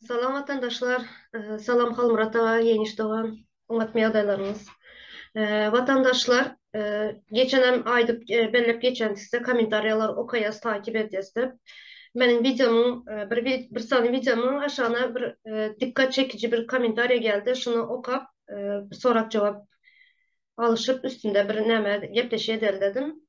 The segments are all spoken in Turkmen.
Salam watandaşlar, salam Halmyrat aga, Ýeňiş dogan, hormatly ýagdaýlaryňyz. Watandaşlar, geçenem aýdyp belläp geçen sizde kommentariýalar okaýas, takip edýäs diýip. Meniň wideomyň bir bir sany wideomyň aşagyna bir dikkat çekiji bir kommentariýa geldi, şuny okap sorag-jogap alyşyp üstünde bir näme gepleşýä dedim.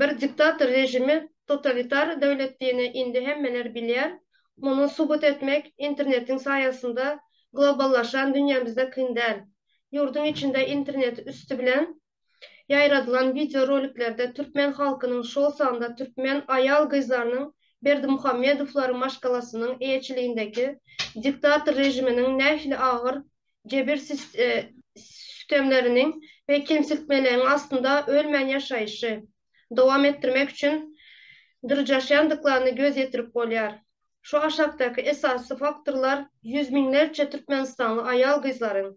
bir diktator režimi totalitar döwletdini indi hemmeler bilýär. Muny subut etmek internetiň saýasynda globallaşan dünýämizde kyn däl. Ýurduň içinde internet üsti bilen ýaýradylan wideo roliklerde türkmen halkynyň şol sanda türkmen aýal-gyzlarynyň Berdimuhamedowlar maşgalasynyň eýeçiligindäki diktator režiminiň nähili agyr jebir sütemleriniň we kemsiltmeleriň astynda ölmän ýaşaýşy dowam etdirmek üçin dyrjaşýandyklaryna göz ýetirip bolýar. Şu aşakdaky esasy faktorlar ýüz müňlerçe türkmenistanly aýal-gyzlaryň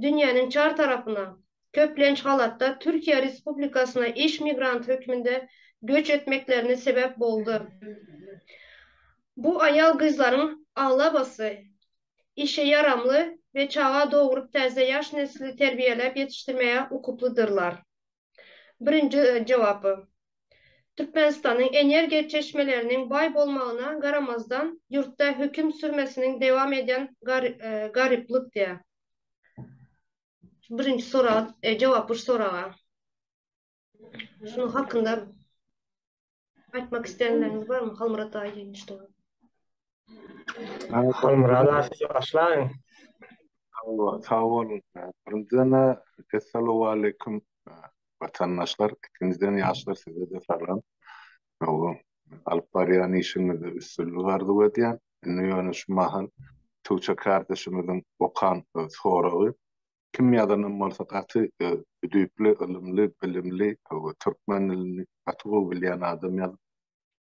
dünýäniň çar tarapyna, köplenç halatda Türkiýe Respublikasyna iş migranty hökmünde göç etmeklerine sebäp boldy. Bu aýal-gyzlaryň aglabasy işe ýaramly we çaga dogrup täze ýaş nesli terbiýeläp ýetişdirmäge ukyplydyrlar? Birinji jogaby, Türkmenistanyň energiýa çeşmeleriniň baý bolmagyna garamazdan ýurtda höküm sürmesiniň dewam edýän garyplyk diýä. Birinji sorag, jogap üç soraga. Şunuň hakynda aýtmak isleýänleriňiz barmy? Halmyrat daýy diýen işte. Halmyrat daýy başlaň. Sag bolun. Birinjiden essalamu aleýkum watandaşlar, ikinjiden ýaşlar size de salam. Hawa, alyp barýan işiňizde üstünlik arzuw edýän. Indi ýöne şu mahal Tuça kardeşimiziň okan soragy Kim ýazanam bolsa gaty düýpli, ylymly, bilimli we türkmen dilini gaty gowy bilýän adam ýazyp.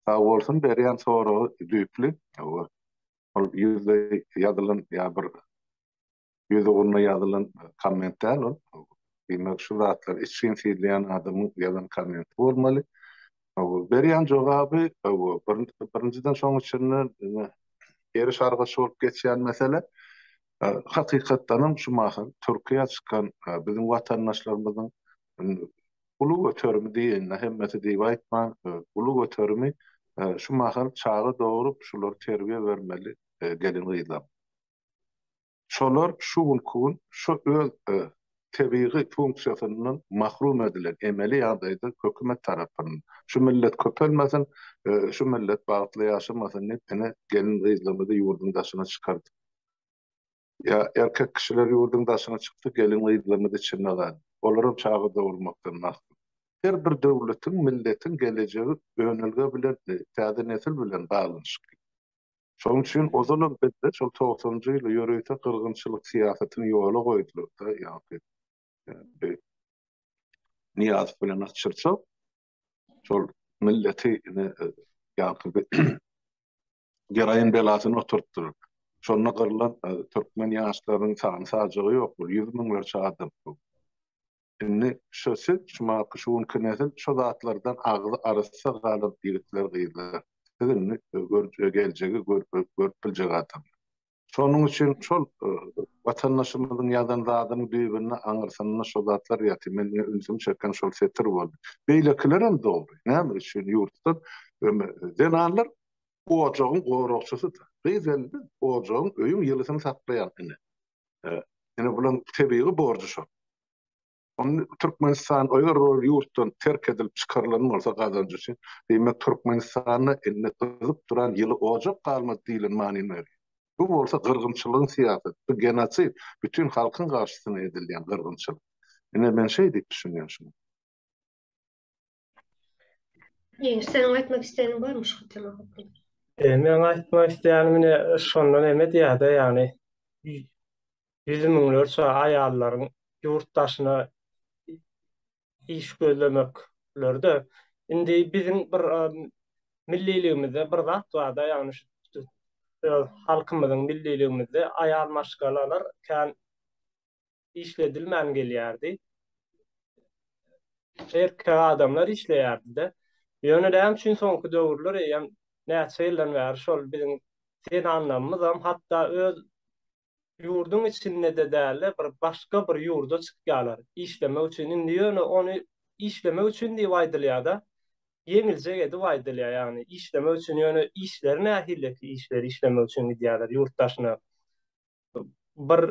Sag bolsun berýän soragy düýpli we ol ýüzde ýazylan ýa bir ýüz ugruna ýazylan komment däl ol. Diýmek şu zatlar içgin syzlaýan adamyň ýazan kommenti bolmaly. Berýän jogaby birinjiden şoň içinde ýeri şargaç bolup geçýän mesele. Hakykatdanam şu mahal Türkiýä çykan biziň watandaşlarymyzyň uly göterimi diýenine hemmesi diýip aýtman, uly göterimi şu mahal çaga dogrup, şulary terbiýe bermeli gelin-gyzlarymyz. Şolar şu günki gün şu öz tebigy funksiýasyndan mahrum edilen emeli ýagdaýda hökümet tarapyndan şu millet köpelmesin, şu millet bagtly ýaşamasyn diýip ine gelin-gyzlarymyzy ýurduň daşyna çykardyp Ýa erkek kişiler ýurduň daşyna çykdy, gelin-gyzlarymyz içinde galdy. Olaram çaga dogurmakdan mahrum. Her bir döwletiň, milletiň gelejegi önelge bilen, täze nesil bilen baglanyşykly. Şonuň üçin ozalam bizde şol togsanynjy ýyly ýörite gyrgynçylyk syýasatyny ýola goýdular-da, ýaňky Nyýazow bilen Atçyrçow şol milleti ine ýaňky geraýyn belasyny oturtdyr. Şonda gyrlan türkmen ýaşlarynyň sany-sajagy ýok bul, ýüz müňlerçe adam bu. Indi şo siz, şu maky, şu günki nesil şo zatlardan agzy arassa galan ýigitler-gyzlar. Siz indi geljegi görüp biljek adamlar. Şonuň üçin şol watandaşymyzyň ýazan zadynyň düýbünde, aňyrsynda şo zatlar ýatyr. Men diňe ünsümi çeken şol setir boldy. Beýlekilerem dogry. Näme üçin ýurtda zenanlar ojagyň goragçysydyr. Gyz indi ojagyň, öýüň ýylysyny saklaýan ene. Ine, bularyň tebigy borjy şo. Onda Türkmenistan eger ol ýurtdan terk edilip çykarylan bolsa gazanjy üçin, diýmek Türkmenistanda indi gyzyp duran ýyly ojak galmaz diýlen manyny berýär. Bu bolsa gyrgynçylygyň syýasaty, bu genosid, bütin halkyň garşysyna edilýän gyrgynçylyk. Ine men şeý diýip düşünýän şuny. Ýeňiş, seniň aýtmak isleýäniň barmy şu tema hakynda? E, men aýtmak isleýänim ine şondan eme diýýärde, ýagny ýüz müňlerçe aýallaryň ýurt daşyna iş gözlemekleride indi biziň bir milliligimizde bir zat bar-da, ýagny şu halkymyzyň milliligimizde aýal maşgalalar kän işledilmän gelýärdi. Erkek adamlar işleýärdi-de. Ýöne näme üçin soňky döwürler eýýäm näçe ýyldan bäri şol biziň zenanlarymyzam hatda öz ýurduň içinde-de däl-de, bir başga bir ýurda çykýarlar işlemek üçin. Indi ýöne ony işlemek üçin diýip aýdylýar-da, ýeňiljek edip aýdylýar. Ýagny işlemek üçin, ýöne işleri nähili ki, işleri işlemek üçin gidýärler ýurt daşyna. bir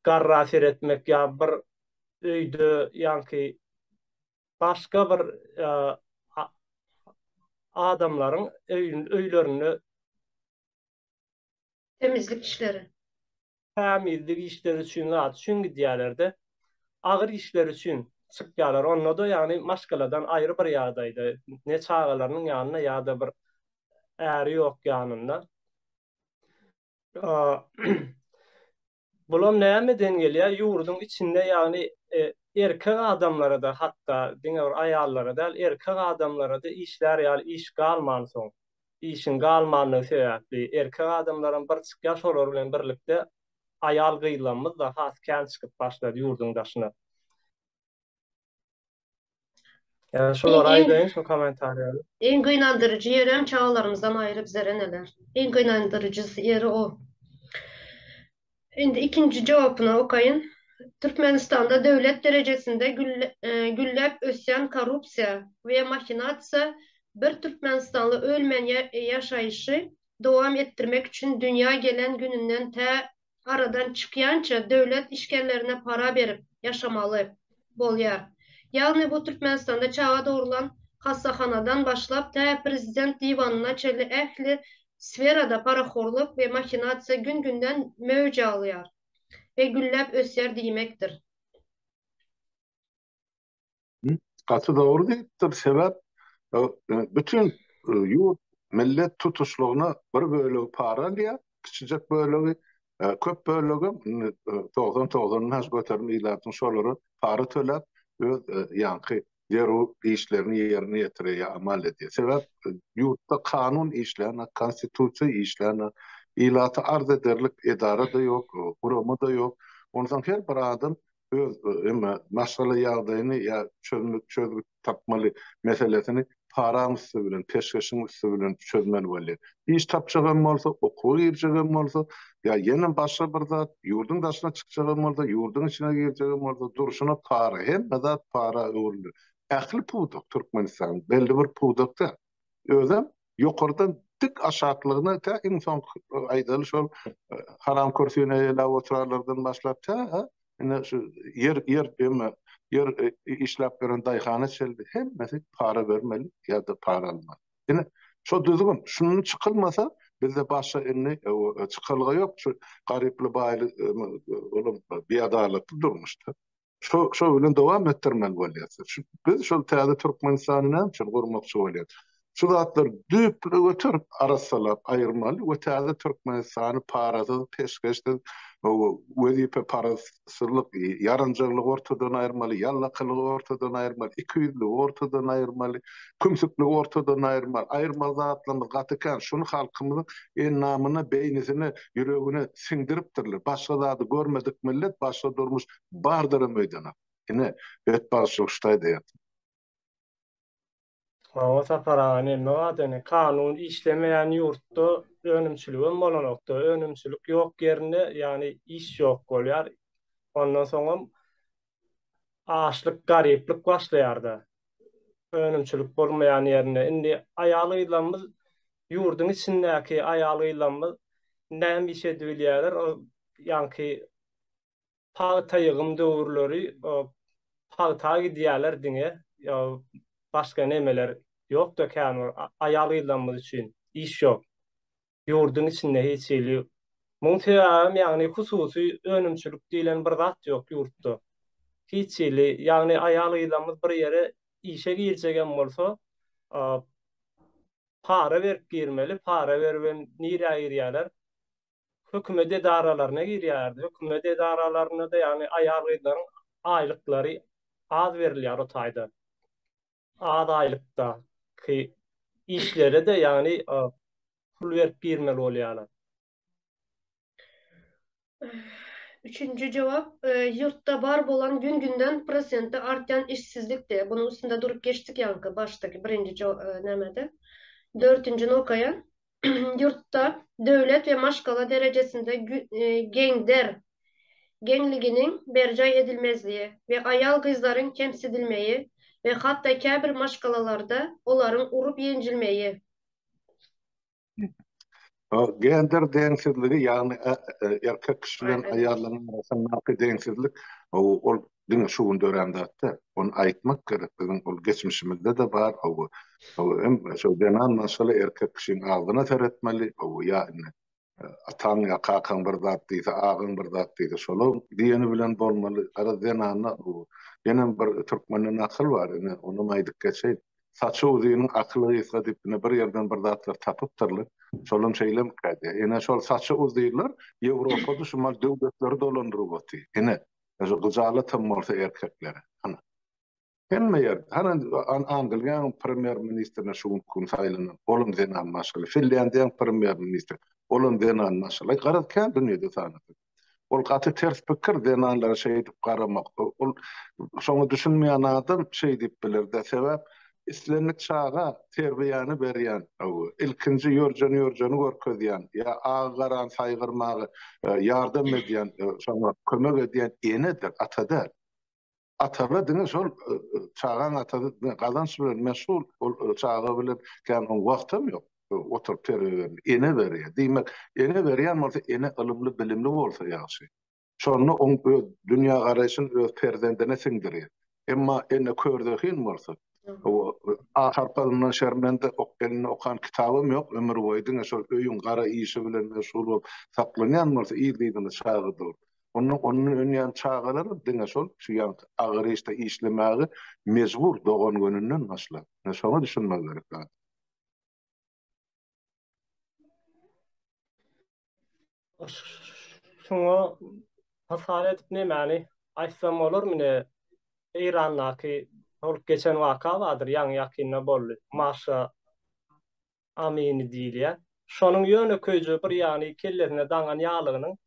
garra seretmek ýa bir öýde ýaňky başga bir adamlaryň öýlerinde temizlik işleri tämizlik işleri üçin zat üçin gidýärlerde agyr işler üçin çykýarlar. Onda-da ýagny maşgaladan aýry bir ýagdaýda, ne çagalarynyň ýanynda ýa-da bir äri ýok ýanynda. Bulam nämeden gelýär? Ýurduň içinde, ýagny e, erkek adamlara-da hatda diňe bir aýallara däl, erkek adamlara-da işlär ýaly iş galman soň, işiň galmanlygy sebäpli erkek adamlaram bir çykýar, şolar bilen birlikde aýal gyzlarymyz-da has kän çykyp başlady ýurduň daşyna. Yani şular aýdaýyn şu kommentariýany. Iň gynandyryjy ýerem çagalarymyzdan aýry bizler eneler. Iň gynandyryjy ýeri o. Indi ikinji jogabyny okaýyn. Türkmenistanda döwlet derejesinde e, gülläp ösýän korrupsiýa we mahinasiýa bir türkmenistanly ölmän ýaşaýşy dowam etdirmek üçin dünýä gelen gününden tä aradan çykýança döwlet işgerlerine para berip ýaşamaly bolýar. Ýagny bu Türkmenistanda çaga dogrulan hassahanadan başlap tä prezident diwanyna çenli ähli sferada parahorlyk we mahinasiýa gün-günden möwç alýar we gülläp ösýär diýmekdir. Gaty dogry diýipdir, sebäp bütin ýurt, millet tutuşlygyna bir bölegi para alýar, kiçijek bölegi, köp bölegem indi togsan togsan has göterim ilatyň şolara para töläp, öz ýaňky zerur işlerini ýerine ýetirýär, amal edýär. Sebäp ýurtda kanun işlänok, konstitusiýa işlänok, ilata arz ederlik edara-da ýok, gurama-da ýok. Onsoň her bir adam öz emma maşgala ýagdaýyny ýa çözmüş çözgüt tapmaly meselesini paraň üsti bilen peşgeşiň üsti bilen çözmeli bolýa. Iş tapjagam bolsa, okuwa girjegem bolsa ýa ýene başga bir zat, ýurduň daşyna çykjagam bolsa, ýurduň içine girjegem bolsa durşuna para, hemme zat para öwrüldi. Ähli pudak Türkmenistanyň belli bir pudak däl. özem ýokardan dik aşaklygyna tä iň soňky aýdaly şol haram kürsüne eýläp oturarlardan başlap tä ine şu ýer ýer ýeme ýer işläp beren daýhana çenli hemmesi para bermeli ýa-da para almaly. Ine şo düzgün şundan çykylmasa bizde başga indi çykalga ýok şu garyply baýly olam biadalakly durmuşda. Şo şo bilen dowam etdirmeli bolýas. Biz şol täze Türkmenistany näme üçin gurmakçy bolýas? Şu zatlary düýpli göterip arassalap aýyrmaly we täze Türkmenistany parasyz, peşgeşsiz, wezipe parazsyzlyk, ýaranjalygy ortadan aýyrmaly, ýallakylygy ortadan aýyrmaly, ikiýüzligi ortadan aýyrmaly, kümsükligi ortadan aýyrmaly. Aýyrmaly zatlarymyz gaty kän. Şuny halkymyzyň endamyna, beýnisine, ýüregine siňdiripdirler. Başga zady görmedik millet, başga durmuş Bardyra meýdana. Ine, bet bagşy ştaýda ýatyr. Maňa Sapar aga neme wada ine kanun işlemeýän ýurtda önümçiligem bolanokda önümçilik ýok ýerinde ýagny iş ýok bolýar ondan soňam açlyk garyplyk başlaýarda önümçilik bolmaýan ýerinde indi aýal gyzlarymyz ýurduň içindäki aýal gyzlarymyz näme iş edibilýärler ol ýaňky pagta ýygym döwürleri pagta gidýärler diňe başga nemeler ýokda kän bir aýal-gyzlarymyz üçin iş ýok. Ýurduň içinde hiç hili muň sebäbem ýagny hususy önümçilik diýlen bir zat ýok ýurtda. Hiç hili ýagny aýal-gyzlarymyz bir ýere işe girjegem bolsa para berip girmeli, para beribem nirä girýärler? hökümet edaralaryna girýärdi. Hökümet edaralarynda-da ýagny aýal-gyzlaryň aýlyklary az berilýär o taýda. Az aýlykdaky işlere-de ýagny pul berip girmeli bolýarlar. Üçünji jogap, ýurtda bar bolan gün-günden prosenti artýan işsizlikdi. Bunuň üstünde durup geçdik ýaňky başdaky birinji nämede. Dörtünjini okaýan. ýurtda döwlet we maşgala derejesinde gender geňliginiň berjaý edilmezligi we aýal-gyzlaryň kemsidilmegi we hatda käbir maşgalalarda olaryň urup-ýenjilmegi. Gender deňsizligi, ýagny erkek kişi bilen aýallaryň arasyndaky deňsizlik, ol diňe şu gün dörän zat däl. Ony aýtmak gerek, biziň ol geçmişimizde-de bar, hawa. Hawa, hem şol zenan maşgala erkek kişiň agzyna seretmeli, hawa, ýa indi ataň ýa kakaň bir zat diýse, agaň bir zat diýse, şola diýeni bilen bolmaly. Garaz, zenanda bu, ýenem bir türkmende nakyl bar, ine, onam aýdyp geçeýin. Saçy uzyn, akyly gysga diýip, ine, bir ýerden bir zatlar tapypdyrlar. Şolam şeýlemikä diýýär. Ine, şol saçy uzynlar Ýewropada şumal döwletleri dolandyryp otyr. Ine, Ýa-da gyjalatam bolsa erkeklere. Hany. Hemme ýerde. Hany Angliýanyň premýer-ministrine şu günki gün saýlanan, olam zenan maşgala. Finlýandiýanyň premýer-ministri, olam zenan maşgala. Garaz, kän dünýede tanadyk. Ol gaty ters pikir zenanlara şeýdip garamak. Ol şoňa düşünmeýän adam şeý diýip biler-de, sebäp Islendik çaga terbiýäni berýän, ilkinji ýörjeni-ýörjeni görkezýän, ýa agy-garany saýgarmaga ýardam edýän, şoňa kömek edýän enedir, ata däl. Ata-da diňe şol çagaň atasy, diňe gazanç bilen meşgul, ol çaga bilen kän oň wagtam ýok, oturyp terbiýe bermä. Ene berýär. Diýmek, ene berýän bolsa, ene ylymly-bilimli bolsa ýagşy. Şonda oň öz dünýägaraýşyny öz perzendine siňdirýär. Emma ene körzehin bolsa, ahal palyndan şermende, ok elinde okan kitabym ýok, ömür boýy diňe şol öýüň gara işi bilen meşgul bolup saklanýan bolsa, yzdyzyna çaga dogrup, onda ondan önýän çagalaram diňe şol şu ýaňky agyr işde işlemäge mejbur dogan gününden başlap. Ine şoňa düşünmek gerek zat. Şoňa hasap edip nämäni aýtsam bolarmy ne? Eýrandaky bolup geçen waka bardyr, ýaňy ýakynda boldy. Maşa Amini diýilýän. Şonuň ýönekeýje bir ýany kellesine daňan ýaglygynyň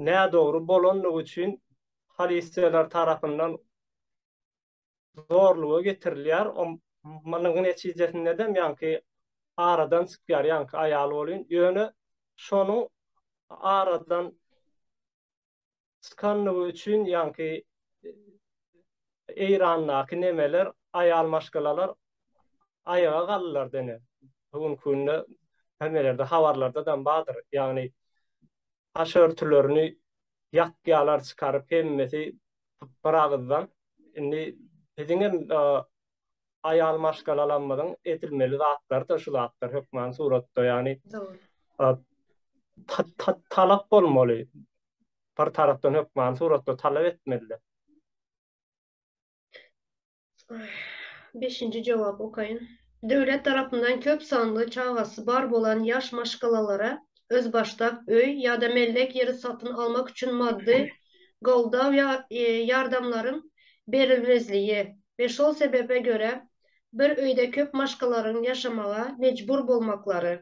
nädogry bolandygy üçin polisiýalar tarapyndan zorluga getirilýär. O munuň netijesinde-dem ýaňky aradan çykýar, ýaňky aýal bolýun. Ýöne şonuň aradan çykandygy üçin ýaňky Eýrandaky nemeler, aýal maşgalalar aýaga galdylar dene. Bu günki günde hemelerde habarlarda-dam bardyr. Ýagny başörtülerini ýapýarlar çykaryp hemmesi bir agyzdan. Indi biziň hem aýal maşgalalarymyzyň edilmeli zatlarydyr şu zatlar hökman suratda ýagny talap bolmaly. Bir tarapdan hökman suratda talap etmeliler. Beşinji jogap okaýyn. Döwlet tarapyndan köp sanly çagasy bar bolan ýaş maşgalalara özbaşdak öý ýa-da mellek ýeri satyn almak üçin maddy goldaw ýa ýardamlaryň berilmezligi we şol sebebe görä bir öýde köp maşgalaryň ýaşamaga mejbur bolmaklary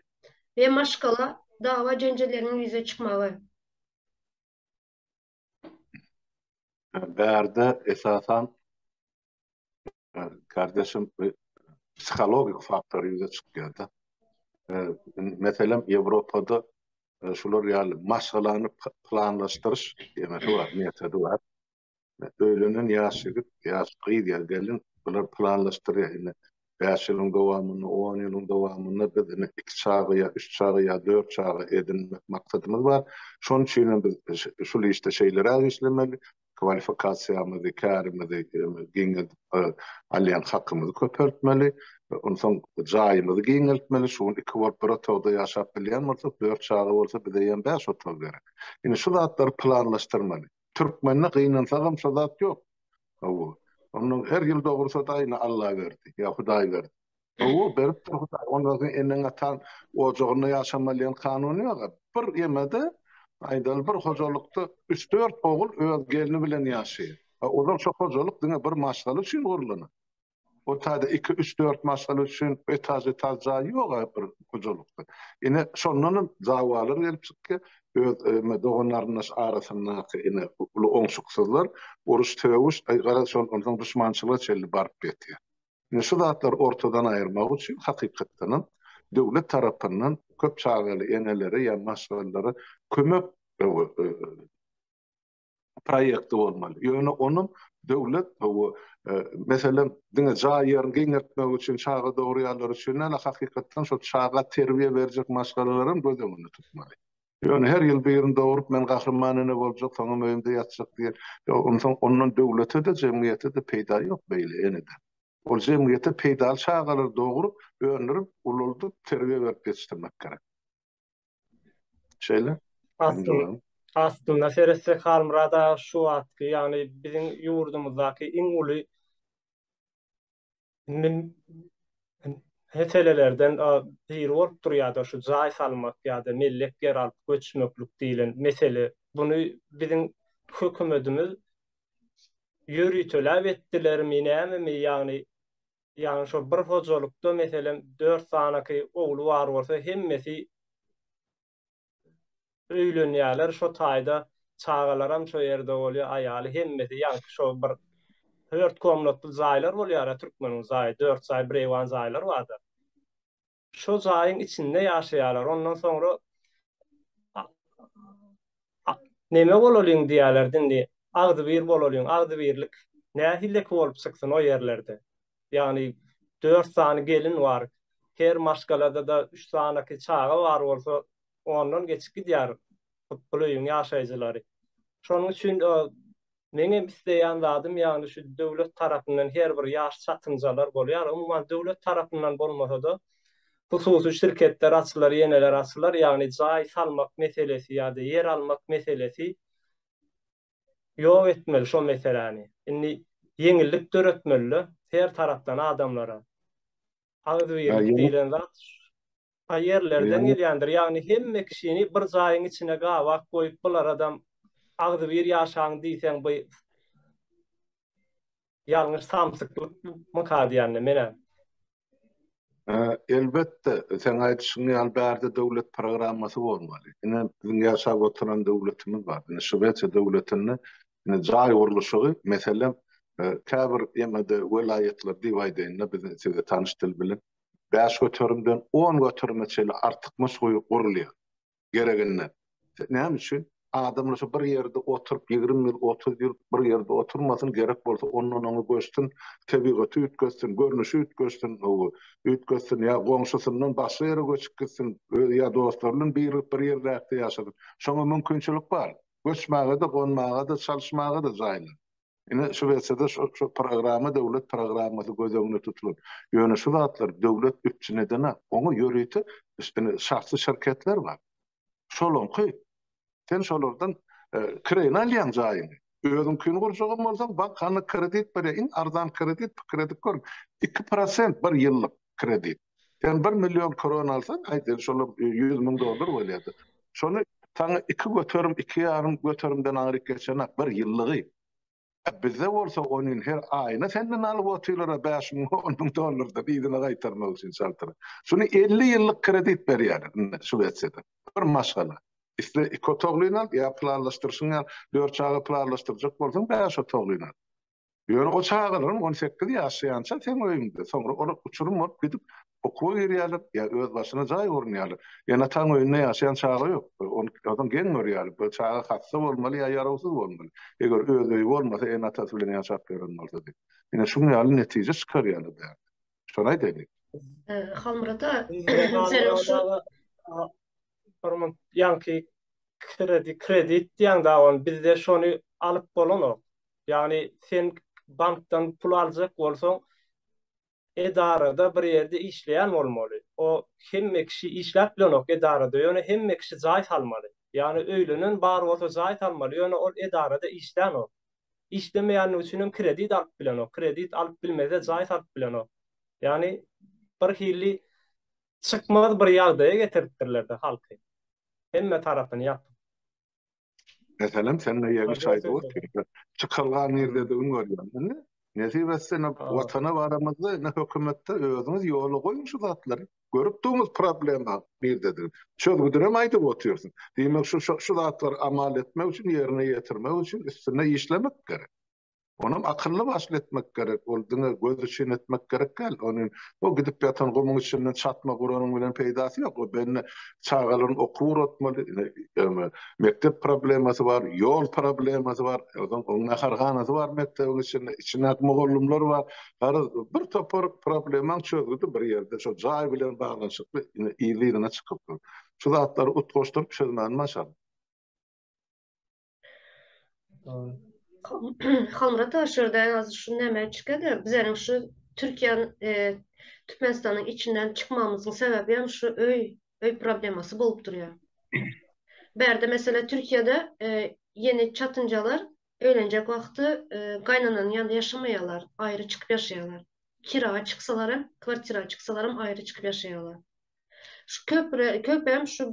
we maşgala dawa-jenjelleriniň ýüze çykmagy. Bärde esasan kardeşim psihologik faktor ýüze çykýar-da. Meselem Ýewropada şular ýaly maşgalany planlaşdyryş diýmesi bar, metody bar. Öýlenen ýaş ýigit, ýaş gyz ýa gelin bular planlaşdyrýar. bäş ýylyň dowamynda, on ýylyň dowamynda biz indi iki çaga ýa üç çaga ýa dört çaga edinmek maksadymyz bar. Şonuň üçin hem biz şul işde şeýleräk işlemeli, kwalifikasiýamyzy, kärimizi giňeldip alýan hakymyzy köpeltmeli, onsoň jaýymyzy giňeltmeli, şu gün iki bolup bir otagda ýaşap bilýän bolsak, dört çaga bolsa bize ýene bäş otag gerek. Indi şu zatlary planlaşdyrmaly. Türkmende gynansagam şo zat ýok. Hawa. Onda her ýyl dogursa da ine Alla berdi, ýa Hudaý berdi. Hawa, beripdir Hudaý. Onda sen eneň-ataň ojagynda ýaşamalyan kanun ýok. Bir ýemede, aýdaly bir hojalykda üç-dört ogul öz gelni bilen ýaşaýar. Ozal şo hojalyk diňe bir maşgala üçin gurlana. O taýda iki, üç, dört maşgala üçin etaž-etaž jaý ýog-a bir hojalykda. Ine, şondanam dawalar gelip çykýa. Öz eme dogan-garyndaş arasyndaky ene uly oňşuksyzlar, uruş-sögüş, aý, garaz, şol onsoň duşmançylyga çenli baryp ýetýä. Ine, şu zatlary ortadan aýyrmak üçin, hakykatdanam, döwlet tarapyndan köp çagaly enelere ýa maşgalalara kömek proýekti bolmaly. Ýöne onuň döwlet bu e, meselem diňe jaý ýerini giňeltmek üçin çaga dogurýanlar üçin näle hakykatdan şol çaga terbiýe berjek maşgalalar hem göz öňünde tutmaly. Ýöne her ýyl birini dogrup men gahryman ene boljak, soňam öýümde ýatjak diýen. Onsoň ondan döwlete-de, jemgyýete-de peýda ýok beýle eneden. Ol jemgyýete peýdaly çagalary dogrup, öndürip, ulaldyp, terbiýe berip ýetişdirmek gerek. Şeýle. Aslynda, aslynda seretsek Halmyrad aga şu wagtky, ýagny biziň ýurdumyzdaky iň uly meselelerden biri bolup durýar-da şu jaý salmak ýa-da mellek ýer alyp göçmeklik diýlen mesele. Muny biziň hökümetimiz ýöriteläp etdilermi, nämemi, ýagny Ýagny şo bir hojalykda meselem dört sanaky ogly bar bolsa hemmesi öýlenýärler şo taýda çagalaram şo ýerde bolýar aýaly hemmesi ýaňky şo bir dört komnatly jaýlar bolýara türkmeniň jaýy dört jaý bireýwan jaýlar barda. şo jaýyň içinde ýaşaýarlar. Ondan soňra neme bolalyň diýýärler dindi. Agzybir bolalyň, agzybirlik nähileki bolup çyksyn o ýerlerde. Ýagny dört sany gelin bar. Her maşgalada-da üç sanaky çaga bar bolsa, ondan geçip gidýär bu öýüň ýaşaýjylary. Şonuň üçin Meňem isleýän zadym ýagny şu döwlet tarapyndan her bir ýaş çatynjalar bolýar. Umuman döwlet tarapyndan bolmasa-da hususy şirketler açylar, ýeneler açylar. Ýagny jaý salmak meselesi ýa-da ýer almak meselesi ýok etmeli şo meseläni. Indi ýeňillik döretmeli-de her tarapdan adamlara. Agzybirlik diýlen zat A ýerlerden gelýändir. Ýagny hemme kişini bir jaýyň içine gabak goýup bularadam agzybir ýaşaň diýseň by ýalňyş samsyklyk myka diýäne menä. Elbetde seň aýdyşyň ýaly bärde döwlet programmasy bolmaly. Ine biziň ýaşap oturan döwletimiz bar. Ine Şwesiýa döwletinde ine jaý gurluşygy meselem käbir ýene-de welaýatlar diýip aýdaýynda biziň size tanyş dil bilen bäş göterimden on göterime çenli artykmaç guýy gurulýar. Gereginden. Näme üçin? Adamlar şu bir ýerde oturyp, ýigrimi ýyl, otuz ýyl bir ýerde oturmasyn, gerek bolsa ondan oňa göçsün, tebigaty üýtgetsin, görnüşi üýtgetsin, hawa, üýtgetsin ýa goňşusyndan başga ýere göçüp gitsin, özi ýa dostlary bilen birlik bir ýerläkde ýaşasyn. Şoňa mümkinçilik bar. Göçmäge-de, gonmaga-da, çalyşmaga-da jaýlar. Ine, şu wersýada şu programma döwlet programmasy göz öňünde tutulan. Ýöne şu zatlar döwlet üpjün edenok. Oňa ýörite şahsy şirketler bar. Şolaňky, sen şolardan kireýine alýaň jaýyňy. Özüňkini gurjagam bolsaň, bank kredit berýär. Iň arzan kredit, kredit gör, iki prosent bir ýyllyk kredit. Sen bir million kron alsan, aýdaýly şol ýüz müň dollar bolýardy. Şony saňa iki göterim, iki ýarym göterimden aňryk geçenak, bir ýyllygy. Ä bizde bolsa onuň her aýyna senden alyp otyrlar-a bäş müň, on müň dollardan yzyna gaýtarmak üçin çaltyra. Şuny elli ýyllyk kredit berýärler indi Şwesiýada. Bir maşgala. Isle iki otaglyny al, ýa planlaşdyryşyňy al, dört çaga planlaşdyrjak bolsaň bäş otaglyny al. Ýöne o çagalaryň on sekiz ýaşaýança seň öýüňde, soňra olar uçurym bolup gidip okuwa girýärler ýa öz başyna jaý gurunýarlar. Ene-ataň öýünde ýaşaýan çaga ýok. Ony adam geň görýär. Bu çaga hassa bolmaly ýa ýarawsyz bolmaly. Eger öz öýi bolmasa ene-atasy bilen ýaşap ýören bolsady. Ine şuň ýaly netije çykarýarlar bärde. Şony aýdaýlyň. Halmyrat aga seniň şu Hormat ýaňky kredit diýýäň dagy ony bizde şony alyp bolanok. Ýagny sen bankdan pul aljak bolsaň, edarada bir ýerde işleýän bolmaly. O hemme kişi işläp bilenok edarada, ýöne hemme kişi jaý salmaly. Ýagny öýlenen bar bolsa jaý salmaly, ýöne ol edarada işlänok. Işlemeýänligi üçin hem kredit alyp bilenok. Kredit alyp bilmese jaý salyp bilenok. Ýagny bir hili çykmaz bir ýagdaýa getiripdirler-de halky. Hemme tarapyny ýapyp. Meselem, sende ýeňiş şaýdy otyr. Çykalga nirdedigiň görýän. Indi nesip etse, indi watana baramyzda, indi hökümetde özüňiz ýola goýuň şu zatlary. Görüp durmyz problema nirdedigini. Çözgüdinem aýdyp otyrsyň. Diýmek, şu şu zatlary amal etmek üçin, ýerine ýetirmek üçin üstünde işlemek gerek. Onam akylly başly etmek gerek, ol diňe göz üçin etmek gerek däl, ony o gidip ýatan gumuň içinden çatma guranyň bilen peýdasy ýok, o benne çagalaryň okuw uratmaly, ýagny mekdep problemasy bar, ýol problemasy bar, onsoň oň naharhanasy bar mekdebiň içinde, içindäki mugallymlar bar, garaz bir topar problemaň çözgüdi bir ýerde, şo jaý bilen baglanyşykly yzly-yzyna çykyp dur. Şu zatlary utgaşdyryp çözmäni başar. Hamra taşyrda az şu näme çykady? Bizäniň şu Türkiýäň e, Türkmenistanyň içinden çykmamyzyň sebäbi hem şu öý öý problemasy bolup durýar. Bärde mesela Türkiýede e, ýeni çatynjalar öýlenjek wagty e, gaýnananyň ýanynda ýaşamaýarlar, aýry çykyp ýaşaýarlar. Kira çyksalar hem, kwartira çyksalar hem aýry çykyp ýaşaýarlar. Şu köpre, köpem şu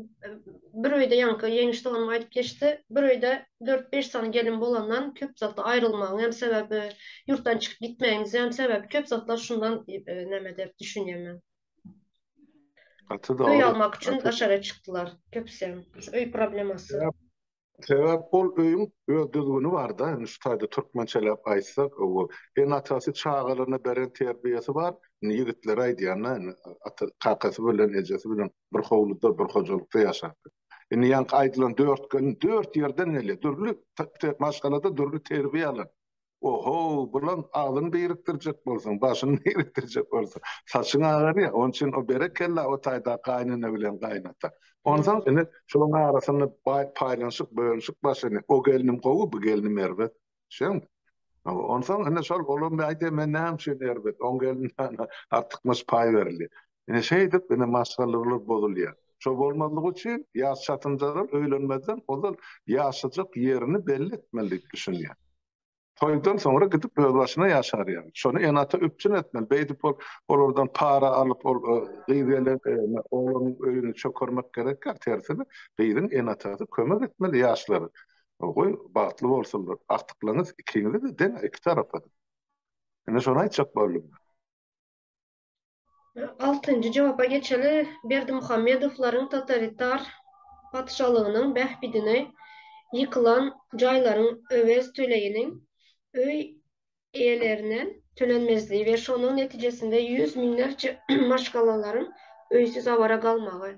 bir öýde ýaňky Ýeňiş doganym aýdyp geçdi, bir öýde dört-beş sany gelin bolandan köp zatda aýrylmagyň hem sebäbi, ýurtdan çykyp gitmegimize hem sebäp köp zatlar şundan näme diýip düşünýän men. Gaty dogry. Öý almak üçin daşary çykdylar köpüsem. Şu öý problemasy. Sebäp ol öýüň öz düzgüni barda indi şu taýda türkmençeläp aýtsak owo ene atasy çagalaryna beren terbiýesi bar indi ýigitler aýdýanda indi ata kakasy bilen ejesi bilen bir howluda bir hojalykda ýaşap indi ýaňky aýdylan dört gelin dört ýerden gelýär dürli maşgalada dürli terbiýe alan Ohow, bulam agzyňy birikdirjek bolsaň, başyňy birikdirjek bolsaň, saçyň agar ýa, onuň üçin o berekella o taýdaky gaýynene bilen gaýynata. Onsoň indi şolaryň arasynda baý paýlanyşyk, bölünişik başlany. O gelnim gowy, bu gelnim erbet. Düşdüňmi? Onsoň indi şol olam aýdýar, men näme üçin erbet, oň gelnine artykmaç paý berilýär. Ine, şeýdip, ine, maşgalalar bozulýar. Şo bolmazlygy üçin ýaş çatynjalar öýlenmezden ozal ýaşajak ýerini belli etmeli diýip düşünýär. Toýdan soňra gidip özbaşyna ýaşar ýaly. Şony ene-ata üpjün etmeli. Beýdip ol olardan para alyp, ol gyz gelen oglanyň öýüni çökermek gerekýär. Tersine, gyzyň ene-atasy kömek etmeli ýaşlara. Goý, bagtly bolsunlar. Agtyklaryňyz ikiňize-de deň, iki tarapa-da. Ine, şony aýtjak boldum men. Altynjy jogapa geçeli, Berdimuhamedowlaryň totalitar patyşalygynyň bähbidine ýykylan jaýlaryň öwez töleginiň öý eýelerine tölenmezligi we şonuň netijesinde ýüz müňlerçe maşgalalaryň öýsüz-awara galmagy.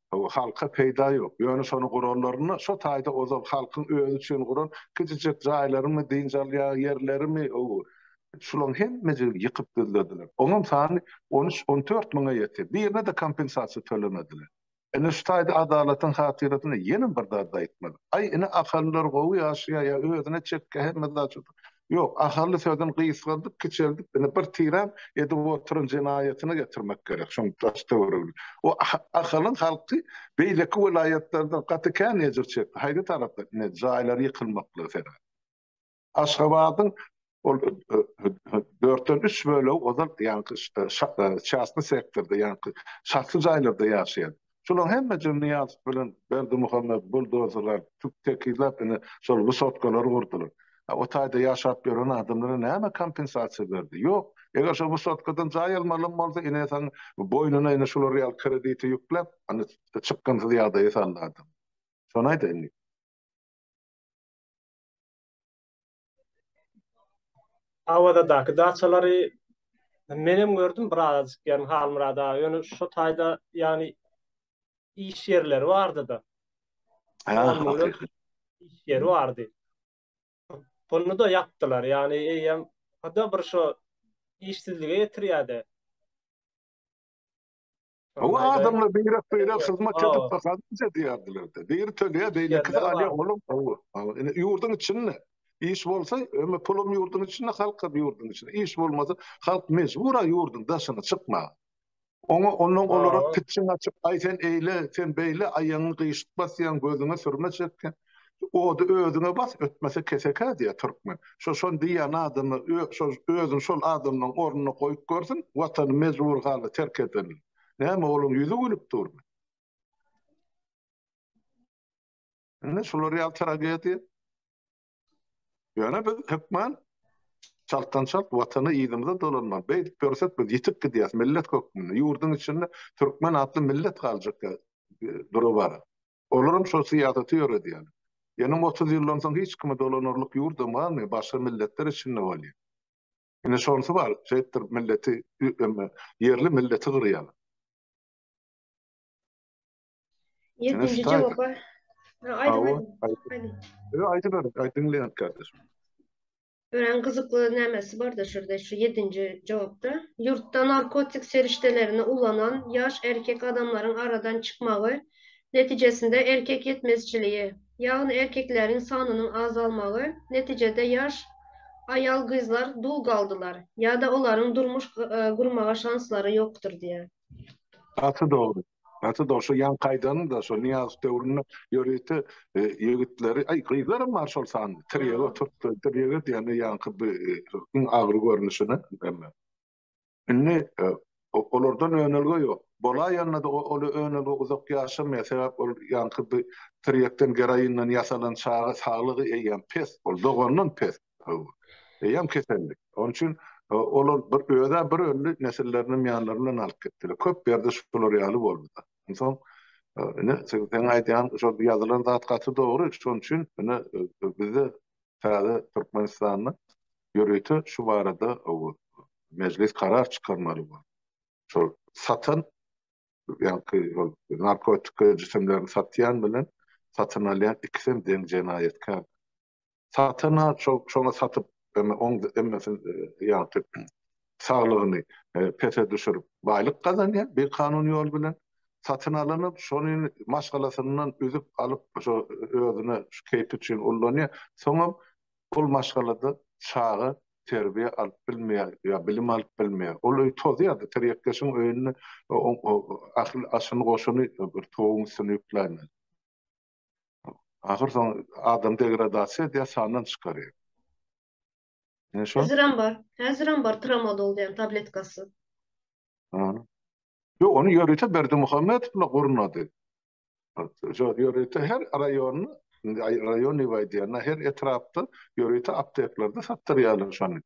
halka peýda ýok. Ýöne şony guranlarynda şo taýda ozal halkyň özi üçin guran kiçijek jaýlarymy, dynç alýan ýerlerimi şulaň hemmejigini ýykyp düzlediler. Oňam sany on üç, on dört müňe ýetýär. Birine-de kompensasiýa tölemediler. Ine şu taýda adalatyň hatyrasyna ýenem bir zat aýtmaly. Aý ine ahalylar gowy ýaşaýar ýa özüne çekýär hemme zat şodur. Ýok, Ahally sözüni gysgaldyp, kiçeltip, indi bir tiräm edip oturan jenaýatyna getirmek gerek, şoň daş-töweregini. O Ahalyň halky beýleki welaýatlardan gaty kän ejir çekdi, haýsy tarapda, ine, jaýlary ýykylmaklygy sebäpli. Aşgabadyň ol dörtden üç bölegi ozal ýaňky çastny sektorda, ýaňky şahsy jaýlarda ýaşaýardy. Şulaň hemme jyny Nyýazow bilen Berdimuhamet, buldozerler, tüp tekizläp ine şol wysotkalary gurdular. A o taýda ýaşap ýören adamlara näme kompensasiýa berdi? Ýok. Eger şo wysotkadan jaý almalam bolsa ine saň boýnuna ine şular ýaly krediti ýükläp ine çykgynsyz ýagdaýa saldy adamy. Şony aýdaýyn. Awazadaky daçalary men hem gördüm bir azajyk ýagny Halmyrat aga ýöne şu taýda ýagny iş ýerleri bardy-da. Iş ýeri bardy. Bunu da ýapdylar ýagny eýýäm bir şu işsizlige getirýärdi. Hawa, adamlar beýrek-beýrek hyzmat edip, gazanç edýärdiler-de. Biri töleýär, beýlekisi alýar, olam gowy. Indi ýurduň içinde iş bolsa, öňe pulum ýurduň içinde, halkam ýurduň içinde. Iş bolmasa, halk mejbur-a ýurduň daşyna çykmaga. Oňa ondan gowurak pitjiň açyp, aý sen eýle, sen beýle, aýagyňy gyşyk basýaň, gözüňe sürme çekýäň. Ody özüňe bas, ötmese kesekä diýýär türkmen. Şo şony diýýän adamy özüni şol adamlaryň ornuna goýup görsün, watany mejbury halda terk edenini. Näme olaň ýüzi gülüp durmy? Ine şular ýaly tragediýa. Ýöne biz hökman çaltdan çalt watana yzymyza dolanmaly. Beýdip ýörsek biz ýitip gidýäs millet hökmünde. Ýurduň içinde türkmen atly millet galjak durup bar. Olaram şol syýasaty ýöredýär. Ýöne otuz ýyldan soň hiç kimi dolanarlyk ýurdam galmaýar, başga milletler içinde bolýar. Ine şonusy bar, şeýtdir milleti ýerli milleti gyrýar. Ýedinji jogapa. Aýdyň aýdyň. Aýdyberin, diňleýän kardeşim. Örän gyzykly nämesi barda şurda şu ýedinji jogapda. Ýurtda narkotik serişdelerini ulanan ýaş erkek adamlaryň aradan çykmagy netijesinde erkek ýetmezçiligi, ýagny erkekläriň sanynyň azalmagy netijede ýaş aýal-gyzlar dul galdylar ýa-da olaryň durmuş gurmaga şanslary ýokdur diýýär. Gaty dogry. Gaty da şu ýan kaýdany da şu Niýazow döwründe ýörite e, ýigitleri, aý gyzlar hem bar şol sany. Tirýege oturtdy, tirýege diýende ýanky bir e, iň agyr görnüşini hemme. Indi e, o- olardan önelge ýok. Bolaýanda da o- ol önelge uzak ýaşamaýar. Sebäp ol ýanky bir tirýekden geroinden ýasalan çaga saglygy eýýäm pes. Ol dogandan pes. Eýýäm kesellik. Onuň üçin olar bir özä bir ömri nesillerini hem ýanlary bilen alyp gitdiler. Köp ýerde şular ýaly bolduda. Onsoň ine sen aýdýan şo ýazylan zat gaty dogry. Şonuň üçin ine bizde täze Türkmenistanda ýörite şu barada mejlis karar çykarmaly bor. Şol satan ýa-ki ol narkotik jisimlerini satýan bilen satyn alýan ikisem deň jenaýatkär. Satana çog çoga satyp emme oň emmesin ýagty saglygyny pese düşürip baýlyk gazanýar bir kanun ýol bilen. Satyn alany şony maşgalasyndan üzüp alyp şo özüne şu keýpi üçin ullanýar. Soňam ol maşgalada çaga terbiýe alyp bilmeýär ýa bilim alyp bilmeýär. Ol öý tozýar-da tirýekleşiň öýünde o o ahyl aşyny goşuny bir toguň üstüne ýükläýmeli. Ahyr soň adam degradasiýa edýär, sandan çykarýar. Ine şo. Häzirem bar. Häzirem bar tramadol diýen tabletkasy. Ha. Ýok, ony ýörite Berdimuhamedow bilen gurnady. Şo ýörite her raýon, raýon diýýän, her etrapda ýörite apteklarda satdyrýarlar şony.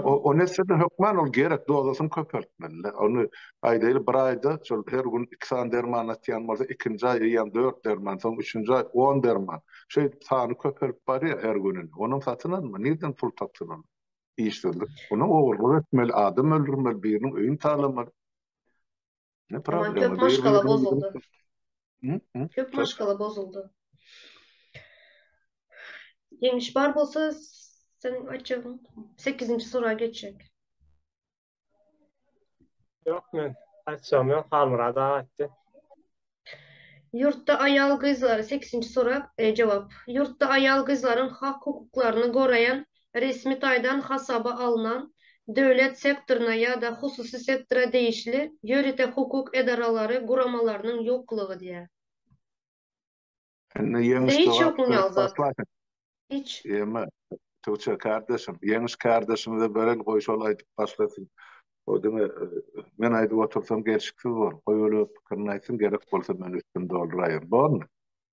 O nesede hökman ol gerek dozasyny köpeltmeli. Onu aýdaýly bir aýda şol her gün iki sany derman atýan bolsa, ikinji aý eýýäm dört derman, soň üçünji aý on derman. Şeýdip sany köpelip barýar her gününi. Onuň satyn alma, nirden pul tapsyn ol? Işsizlik. Onuň ogurlyk etmeli, adam öldürmeli, biriniň öýüni talamaly. Ne problem? Köp maşgala bozuldu. Köp maşgala bozuldu. Ýeňiş bar bolsa sen açygyň 8-nji sura geçjek. Ýok men açjam ýok Halmyrad aga aýtdy. Ýurtda aýal-gyzlary, sekizinji sorag, jogap, Ýurtda aýal-gyzlaryň hak-hukuklaryny goraýan, resmi taýdan hasaba alnan, döwlet sektoryna ýa-da hususy sektora degişli ýörite hukuk edaralary, guramalarynyň ýoklugy diýýär. Indi ýeňiş dogap Hiç. Ýeme. Tuça kardeşim, ýeňiş kardeşimize bereli goý şol aýdyp başlasyn. O diňe e, men aýdyp otursam gelşiksiz bor. Goý öle pikirini aýtsyn gerek bolsa men üstüni dolduraýyn. Bormy?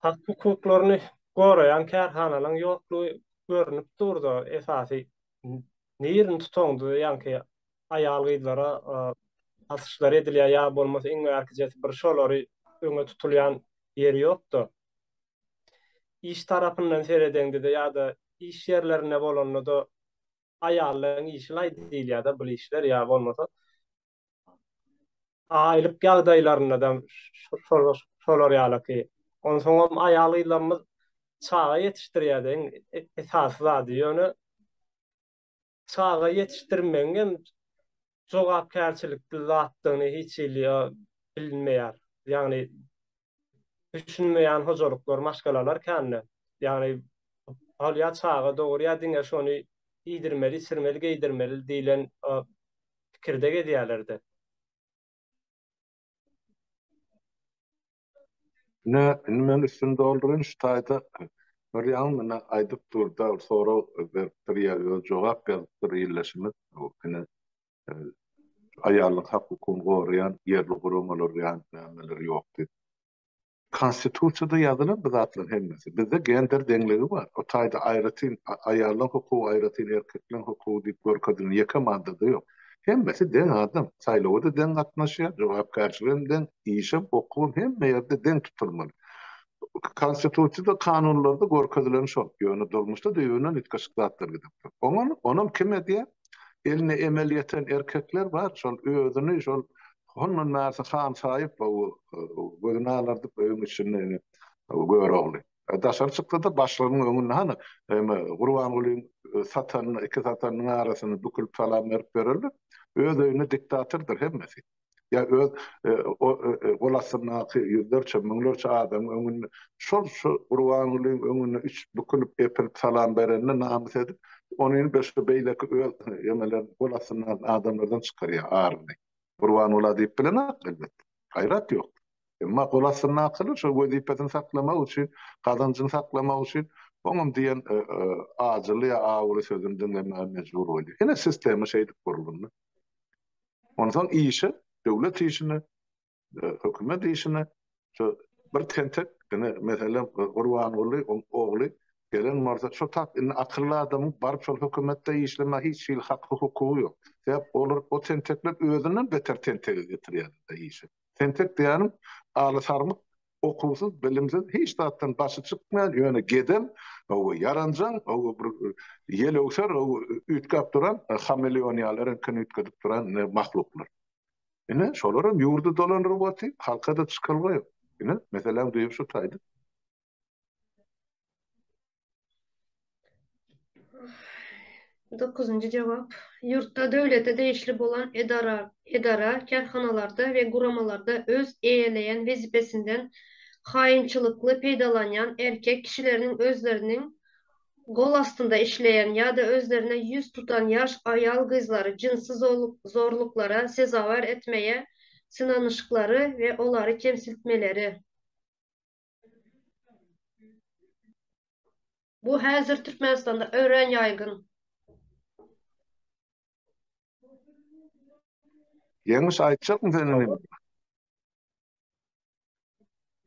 Hak hukuklaryny goraýan kärhanalaryň ýoklugy görnüp durda esasy nirini tutaňda ýaňky aýal-gyzlara asyşlar edilýär ýa bolmasa iň bärkijesi bir şolary öňe tutulýan ýeri ýokda. Iş tarapyndan seredeňde-de ýa-da iş ýerlerinde bolanda-da aýallaryň işi laý diýilýär-de bul işler ýa bolmasa aýlyk ýagdaýlarynda-da şolar ýalyky. Onsoňam aýal-gyzlarymyz çaga ýetişdirýär-de iň esasy zady. Ýöne Çaga ýetişdirmegiň hem jogapkärçilikli zatdygyny hiç hili bilinmeýär. Ýagny düşünmeýän hojalyklar, maşgalalar kän-de. Ýagny ol ýa çaga dogurýar, diňe şony iýdirmeli, içirmeli, geýdirmeli diýlen pikirde gezýärler-de. Ine, indi men üstüni dolduryn, şu taýda bir ýaňy muny aýdyp durda sorag beripdir ýa özi jogap ýazypdyr ildeşimiz. Ine, aýalyň hak-hukugyny goraýan ýerli guramalar ýa-da nämeler ýok diýip. Konstitusiýada ýazylan bu zatlaryň hemmesi. Bizde gender deňligi bar. O taýda aýratyn aýalyň hukugy, aýratyn erkekleň hukugy diýip görkezilen ýeke maddada ýok. Hemmesi deň adam, saýlawa-da deň gatnaşýar, jogapkärçiligem deň, işem, okuwam hemme ýerde deň tutulmaly. Konstitusiýada, kanunlarda görkezileni şol, ýöne durmuşda düýbünden üýtgeşik zatlar gidip dur. Oňam, onam kim edýär? Eline emel ýeten erkekler bar, şol özüni şol hondan bärsi han saýyp, gözüni alardyp öýüň içinde indi Görogly. Daşary çykdy-da, başlygynyň öňünde, Hany, eme, Gurbangulyň satan, iki satanynyň arasyny bükülip salam berip ýörerler. Öz öýünde diktatordyr hemmesi. Ýa öz gol astyndaky ýüzlerçe, müňlerçe adamyň öňünde şol şu Gurbangulyň öňünde üç bükülip, epilip salam berenine namys edip, ony indi şu beýleki öz emeleriniň gol astyndaky adamlardan çykarýar aryny. Gurbanguly-a diýip bilenok elbetde. Gaýrat ýok. Emma gol astyndakylar şol wezipesini saklamak üçin, gazanjyny saklamak üçin oňam diýen ajyly ýa awuly sözüni diňlemäge mejbur bolýar. Ine sistema şeýdip gurlundy. Onsoň işe, döwlet işine, hökümet işine şu bir tentek, ine meselem Gurbanguly ogly gelen bolsa şu tap indi akylly adamyň baryp şol hökümetde işlemäge hiç hili haky-hukugy ýok. Sebäp olar o tentekler özünden beter tentegi getirýärler-de işe. Tentek diýýänim, alysarmyk, okuwsyz, bilimsiz, hiç zatdan başy çykmaýan, ýöne geden, hawa, ýaranjaň, hawa, bir ýelewser, hawa, üýtgäp duran, hameleon ýaly reňkini üýtgedip duran mahluklar. Ine, şolar hem ýurdy dolandyryp otyp, halka-da çykalga ýok. Ine, meseläň düýbi şu taýda. Dokuzynjy jogap. Ýurtda döwlete degişli bolan edara, edara, kärhanalarda we guramalarda öz eýeleýän wezipesinden haýynçylykly peýdalanýan erkek kişileriniň özleriniň gol astynda işleýän ýa-da özlerine ýüz tutan ýaş aýal-gyzlary jynsy zorluklara sezewar etmäge synanyşyklary we olary kemsiltmeleri. Bu häzir Türkmenistanda örän ýaýgyn. Ýeňiş aýtjakmy sen indi?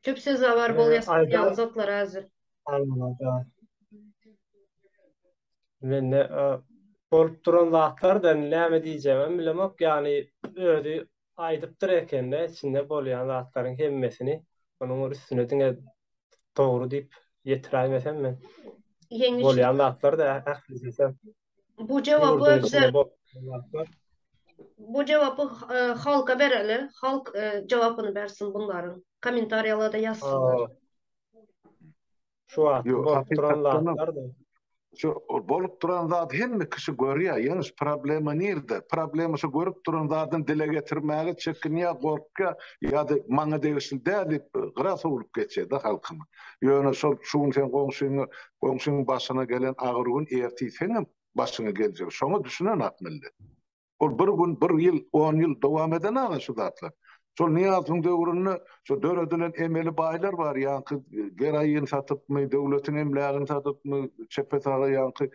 Köp sezawar bolýarsyň ýaly zatlar häzir. Almada. Mende bolup duran zatlar da näme diýjegimi bilemok, ýagny özi Aýdypdyr ekende içinde bolýan zatlaryň hemmesini onuň üstüne diňe dogry diýip ýetiräýmesem men. Ýeňiş. Bolýan zatlar da ählisisi. Bu jogaby bize. Bu jogaby halka bereli. Halk jogabyny bersin bunlaryň. Kommentariýalarda ýazsynlar. Şu wagt bolup duran zatlardy. Şu bolup duran zat hemme kişi görýär. Ýeňiş problema nirde? Problema şu görüp duran zadyny dile getirmäge çekinýär, gorkýar ýa-da maňa degişli däl diýip gyra sowlup geçýär-de halkymy. Ýöne şol şu gün sen goňşyňy, goňşyň başyna gelen agyr gün ertir seňem başyňa geljek. Şoňa düşünen ak millet. Ol bir gün, bir ýyl, on ýyl dowam eden aga şu zatlar. Şol Nyýazowyň döwründe şu döredilen emeli baýlar bar, ýaňky geraýin satypmy, döwletiň emlägini satypmy, çepe-saga ýaňky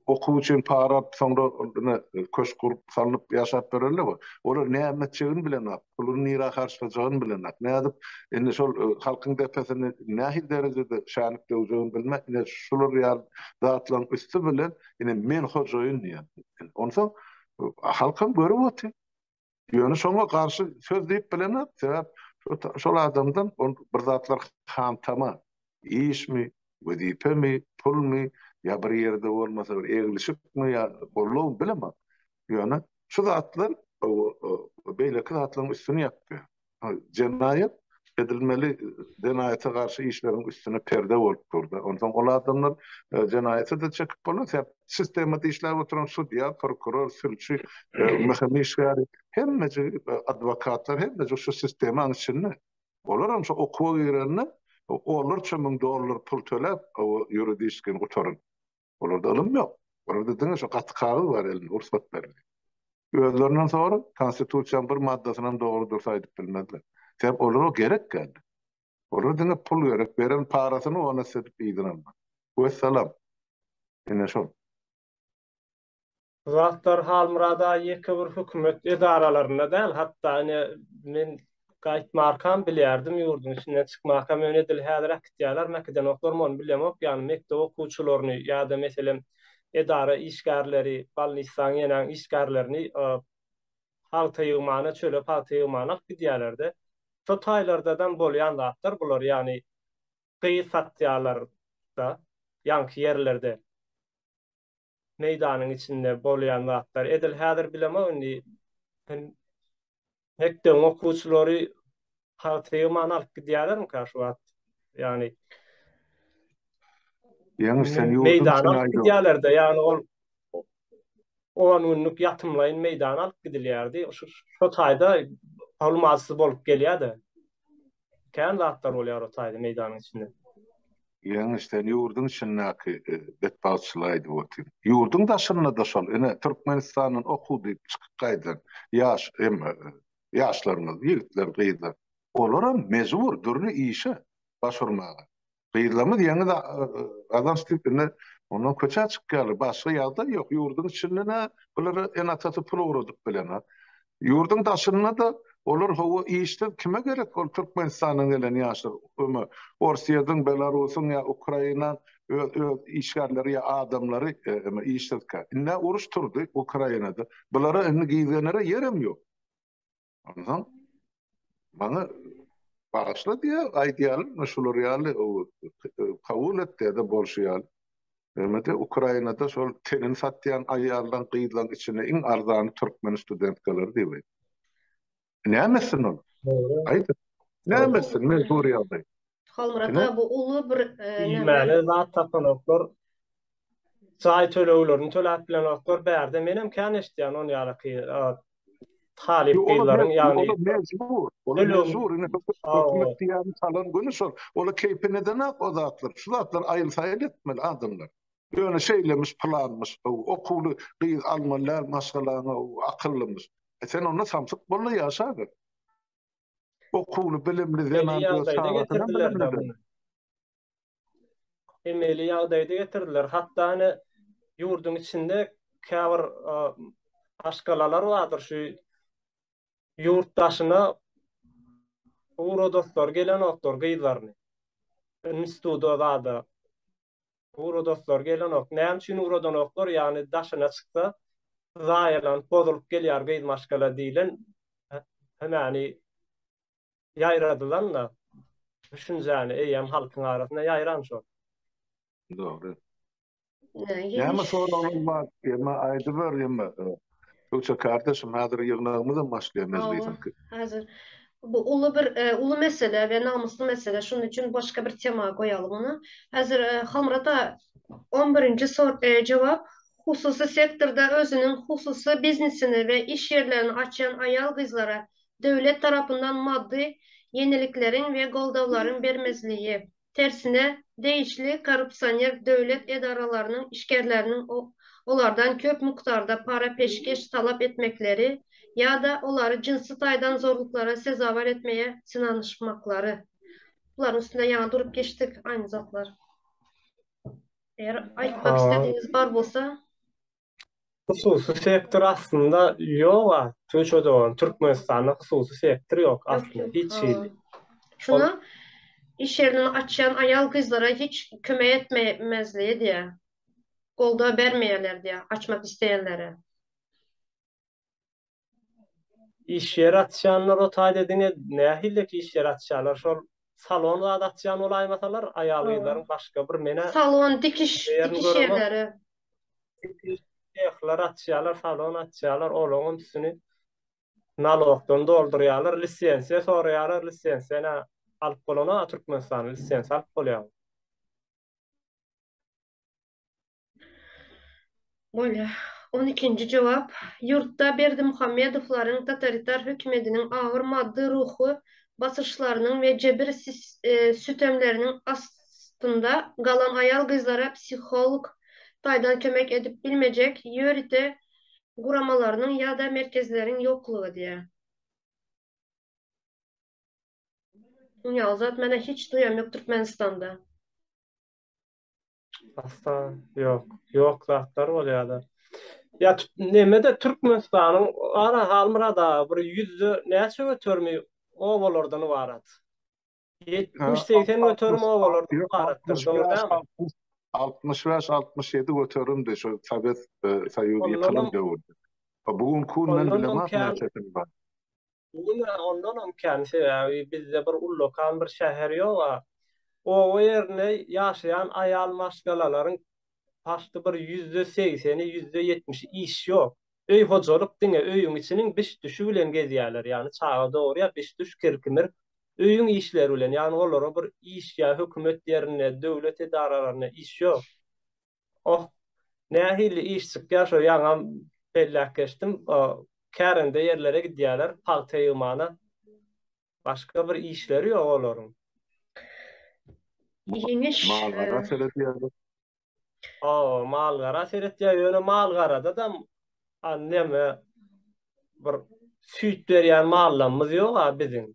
okuw üçin para alyp, soňra ine köşk gurup, salnyp ýaşap ýörenler bar. Olar näme etjegini bilenok, puluny nirä harçlajagyny bilenok. Nädip indi şol halkyň depesini nähili derejede şänlik döwjegini bilmek, ine şular ýaly zatlaryň üsti bilen, Ine, men hojaýyn diýen. Onsoň halkam görüp otyr. Ýöne şoňa garşy söz diýip bilenok, sebäp şol adamdan ol bir zatlar hantama, işmi, wezipemi, pulmy, ýa bir ýerde bolmasa bir eglişikmi, ýa gollugymy bilemok. Ýöne şu zatlar beýleki zatlaryň üstüni ýapýar. jenaýat edilmeli jenaýata garşy işleriň üstüne perde bolup durdy. Onsoň ol adamlar jenaýaty-da çekip boldy. Sebäp sistemada işläp oturan sudýa, prokuror, sülçi, mhim işgäri, hemmeje adwokatlar, hemmeje şu sistemaň içinde. Olaram şu okuwa girende onlarça müň dollar pul töläp, ýuridiski gutaryp. Olarda ylym ýok. Olarda diňe şu gaty kagyz bar elinde, rugsat berdi. Özlerinden sorup, Konstitusiýanyň bir maddasyny hem dogry dursa aýdyp bilmezler. Sebäp olara gerek geldi. Olara diňe pul gerek, beren parasyny ony sedip yzyna almak. Wessalam. Ine şol. Bu zatlar Halmyrada ýeke bir hökümet edaralarynda däl, hatda ine men gaýtmarkam bilýärdim, ýurduň içinden çykmarkam, ýöne edil häzir äkitýärler, mäkidenoklar muny bilemok, ýagny mekdep okuwçylaryny ýa-da meselem edara işgärleri, balnisdaň ýenäň işgärlerini pagta ýygmana, çöle pagta ýygmana alyp gidýärler-de. Şo taýlardadam bolýan zatlar bular, ýagny gyz satýarlar-da ýaňky ýerlerde. meýdanyň içinde bolýan zatlar. Edil häzir bilemok indi mekdebiň okuwçylary haltygy many alyp gidýärlermikä şu wagt? Ýagny Ýeňiş sen ýurduň meýdana alyp gidýärler-de, ýagny ol 10 günlük ýatymlaýyn meýdana alyp gidilýärdi. Şu şu taýda almazsyz bolup gelýär-de. kän zatlar bolýar o taýda meýdanyň içinde. Ýeňiş, sen ýurduň içindäki betbagtçylygy aýdyp otyr. Ýurduň daşynda-da şol, ine, Türkmenistandan okuw diýip çykyp gaýdan ýaş hem ýaşlarymyz, ýigitler, gyzlar. Olaram mejbur dürli işe baş urmaga. Gyzlarymyz ýeňiz gazanç diýip indi ondan köçä çykýarlar. Başga ýagdaý ýok. Ýurduň içinde-de bulara ene-atasy pul ugradyp bilen. Ýurduň daşynda-da olar hawa işde kime gerek ol Türkmenistandan gelen ýaşlar. Öňe Orsýetiň, Belarusyň ýa Ukraina öz işgärleri ýa adamlary işsizkä. Indi uruş turdy Ukrainada. Bulara indi gizlenere ýerem ýok. Ondan bana bağışla diye aýdýarlar, men şular ýaly kabul et diýde bolşy ýaly. Hemede Ukrainada şol tenin satýan aýaldan gyzlaň içinde iň arzany türkmen studentkalar diýip. Näme etsin ol? Aýt. Näme etsin? Men gurýardy. Halmyrat aga bu uly bir iýmäli zat tapylanoklar. Jaý töleglerini töläp bilenoklar. Bärde men hem kän eşitýän on ýalyky talyp gyzlaryň ýagny olar mejbur. Olar mejbur. Indi hökümet diýýän salan güni şol. Olar keýpi nedenok o zatlar. Şu zatlar aýyl-saýyl etmeli adamlar. Ýöne şeýlemiş, pylanmyş, okuwly gyz almaly däl maşgalaňa, akyllymyş. E sen onda samsyk bolda ýaşa bir. okuwly, bilimli zenan öz çagasynyň bilimlidir. Emeli ýagdaýda getirdiler. Hatda ine ýurduň içinde käbir maşgalalar bardyr şu ýurt daşyna uradoslar gelenoklar gyzlaryny instituda zada Ura dostlar gelenok. Näme üçin uradanoklar? Ýagny daşyna çyksa zaýalanyp bozulyp gelýär gyz maşgala diýlen hemani ýaýradylan-da düşünjäni eýýäm halkyň arasynda ýaýran şol. Dogry. Näme soraglar bar? Emma aýdyber emma. Gökje kardeşim hazir ýygnagymyzam başlaýar mejlisiňki. Hawa hazir bu uly bir uly mesele we namysly mesele şonuň üçin başga bir tema goýalyň ony. Hazir Halmyrata on birinji jogap hususy sektorda özüniň hususy biznesini we iş ýerlerini açýan aýal gyzlara döwlet tarapyndan maddy ýenilikleriň we goldawlaryň bermezligi. Tersine, degişli korrupsioner döwlet edaralarynyň işgerleriniň olardan köp mukdarda para-peşgeş talap etmekleri ýa-da olary jynsy taýdan zorluklara sezewar etmege synanyşmaklary. Bularyň üstünde ýaňy durup geçdik, aýny zatlar. Eger aýtmak istedigiňiz bar bolsa. Hususy sektor aslynda ýog-a, Tunçe dogan, Türkmenistanda hususy sektor ýok aslynda, hiç hili. Şunda iş ýerini açýan aýal-gyzlara hiç kömek etmemezligi diýýär. Goldaw bermeýärler diýýär, açmak isleýänlere. Iş ýeri açýanlara taýda diňe nähillik iş ýeri açýarlar? Şol salon zat açýan bolaýmasalar, aýal-gyzlaryň başga bir menä. Salon, dikiş, dikiş ýerleri. Dikiş sehleri açýarlar, salon açýarlar, olaň hem üstüni nalogdan doldurýarlar, lisensiýa soraýarlar, lisensiýa nä alyp bolana Türkmenistanda lisensiýa alyp bolýarmy? Bolýa. On ikinji jogap. Ýurtda Berdimuhamedowlaryň totalitar hökümetiniň agyr maddy-ruhy basyşlarynyň we jebir sütemleriniň astynda galan aýal-gyzlara psiholog taýdan kömek edip bilmejek ýörite guramalarynyň ýa-da merkezleriň ýoklugy diýýär. Dünýä uzat, menä hiç duýam ýok Türkmenistanda. Asla yok. Yok zatlar bolýar da. Ya nemede Türkmenistanyň ara halmyrada bir ýüzde näçe göterimi obalardan ibarat? 70-80 göterim obalardan ibaratdyr. 65-67 göterimdi şu Sowet e, Soýuzy ýykylan döwürde. Bu gün künmen bilemok näçesini bar. Bu gün ondanam kän, sebäbi bizde bir ullakan bir şäher ýog-a. Oba ýerinde ýaşaýan aýal maşgalalaryň paşdy bir ýüzde segseni, ýüzde ýetmişi iş ýok. Öý hojalyk diňe öýüň içiniň biş-düşi bilen gezýärler, ýagny çaga dogurýar, biş-düş, kir-kimir öýüň işleri bilen, ýagny olara bir iş ýa hökümet ýerinde, döwlet edaralarynda iş ýok. Oh, nähili iş çykýar şo ýaňam belläp geçdim, kärende ýerlere gidýärler, pagta ýygmana. Başga bir işleri ýok olaryň. Ýeňiş. Mal-gara seredýärler. Hawa, mal-gara seredýär, ýöne mal-garadadam neme bir süýt berýän mallamyz ýog-a biziň.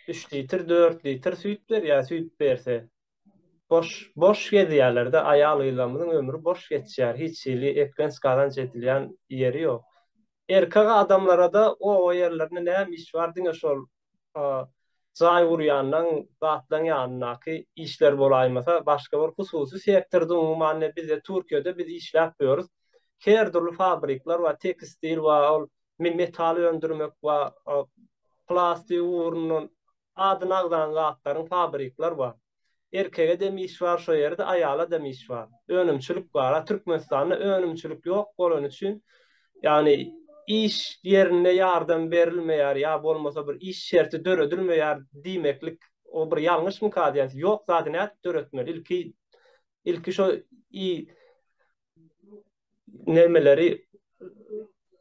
3 litr, 4 litr süýt berýär, süýt berse. Boş, boş gezýärler-de, aýal-gyzlarymyzyň ömri boş geçýär, hiç hili eklenç-gazanç edilýän ýeri ýok. Erkek adamlara-da oba ýerlerinde näme iş bar, diňe şol jaý gurýanlaň, zatlaň ýanyndaky işler bolaýmasa, başga bir hususy sektorda umuman, ine, bizde Türkiýede biz işläp ýörüs, her dürli fabrikler bar, tekstil bar, ol metal öndürmek we plastik ugrundan adyny agzalan zatlaryň fabrikler bar. Erkege dem iş bar şo ýerde, aýala dem iş bar. Önümçilik bar. A Türkmenistanda önümçilik ýok bolany üçin, ýagny iş ýerinde ýardam berilmeýär ýa bolmasa bir iş şerti döredilmeýär diýmeklik o bir ýalňyşmyka diýýän. Ýok zady nädip döretmeli? Ilki ilki şo nämeleri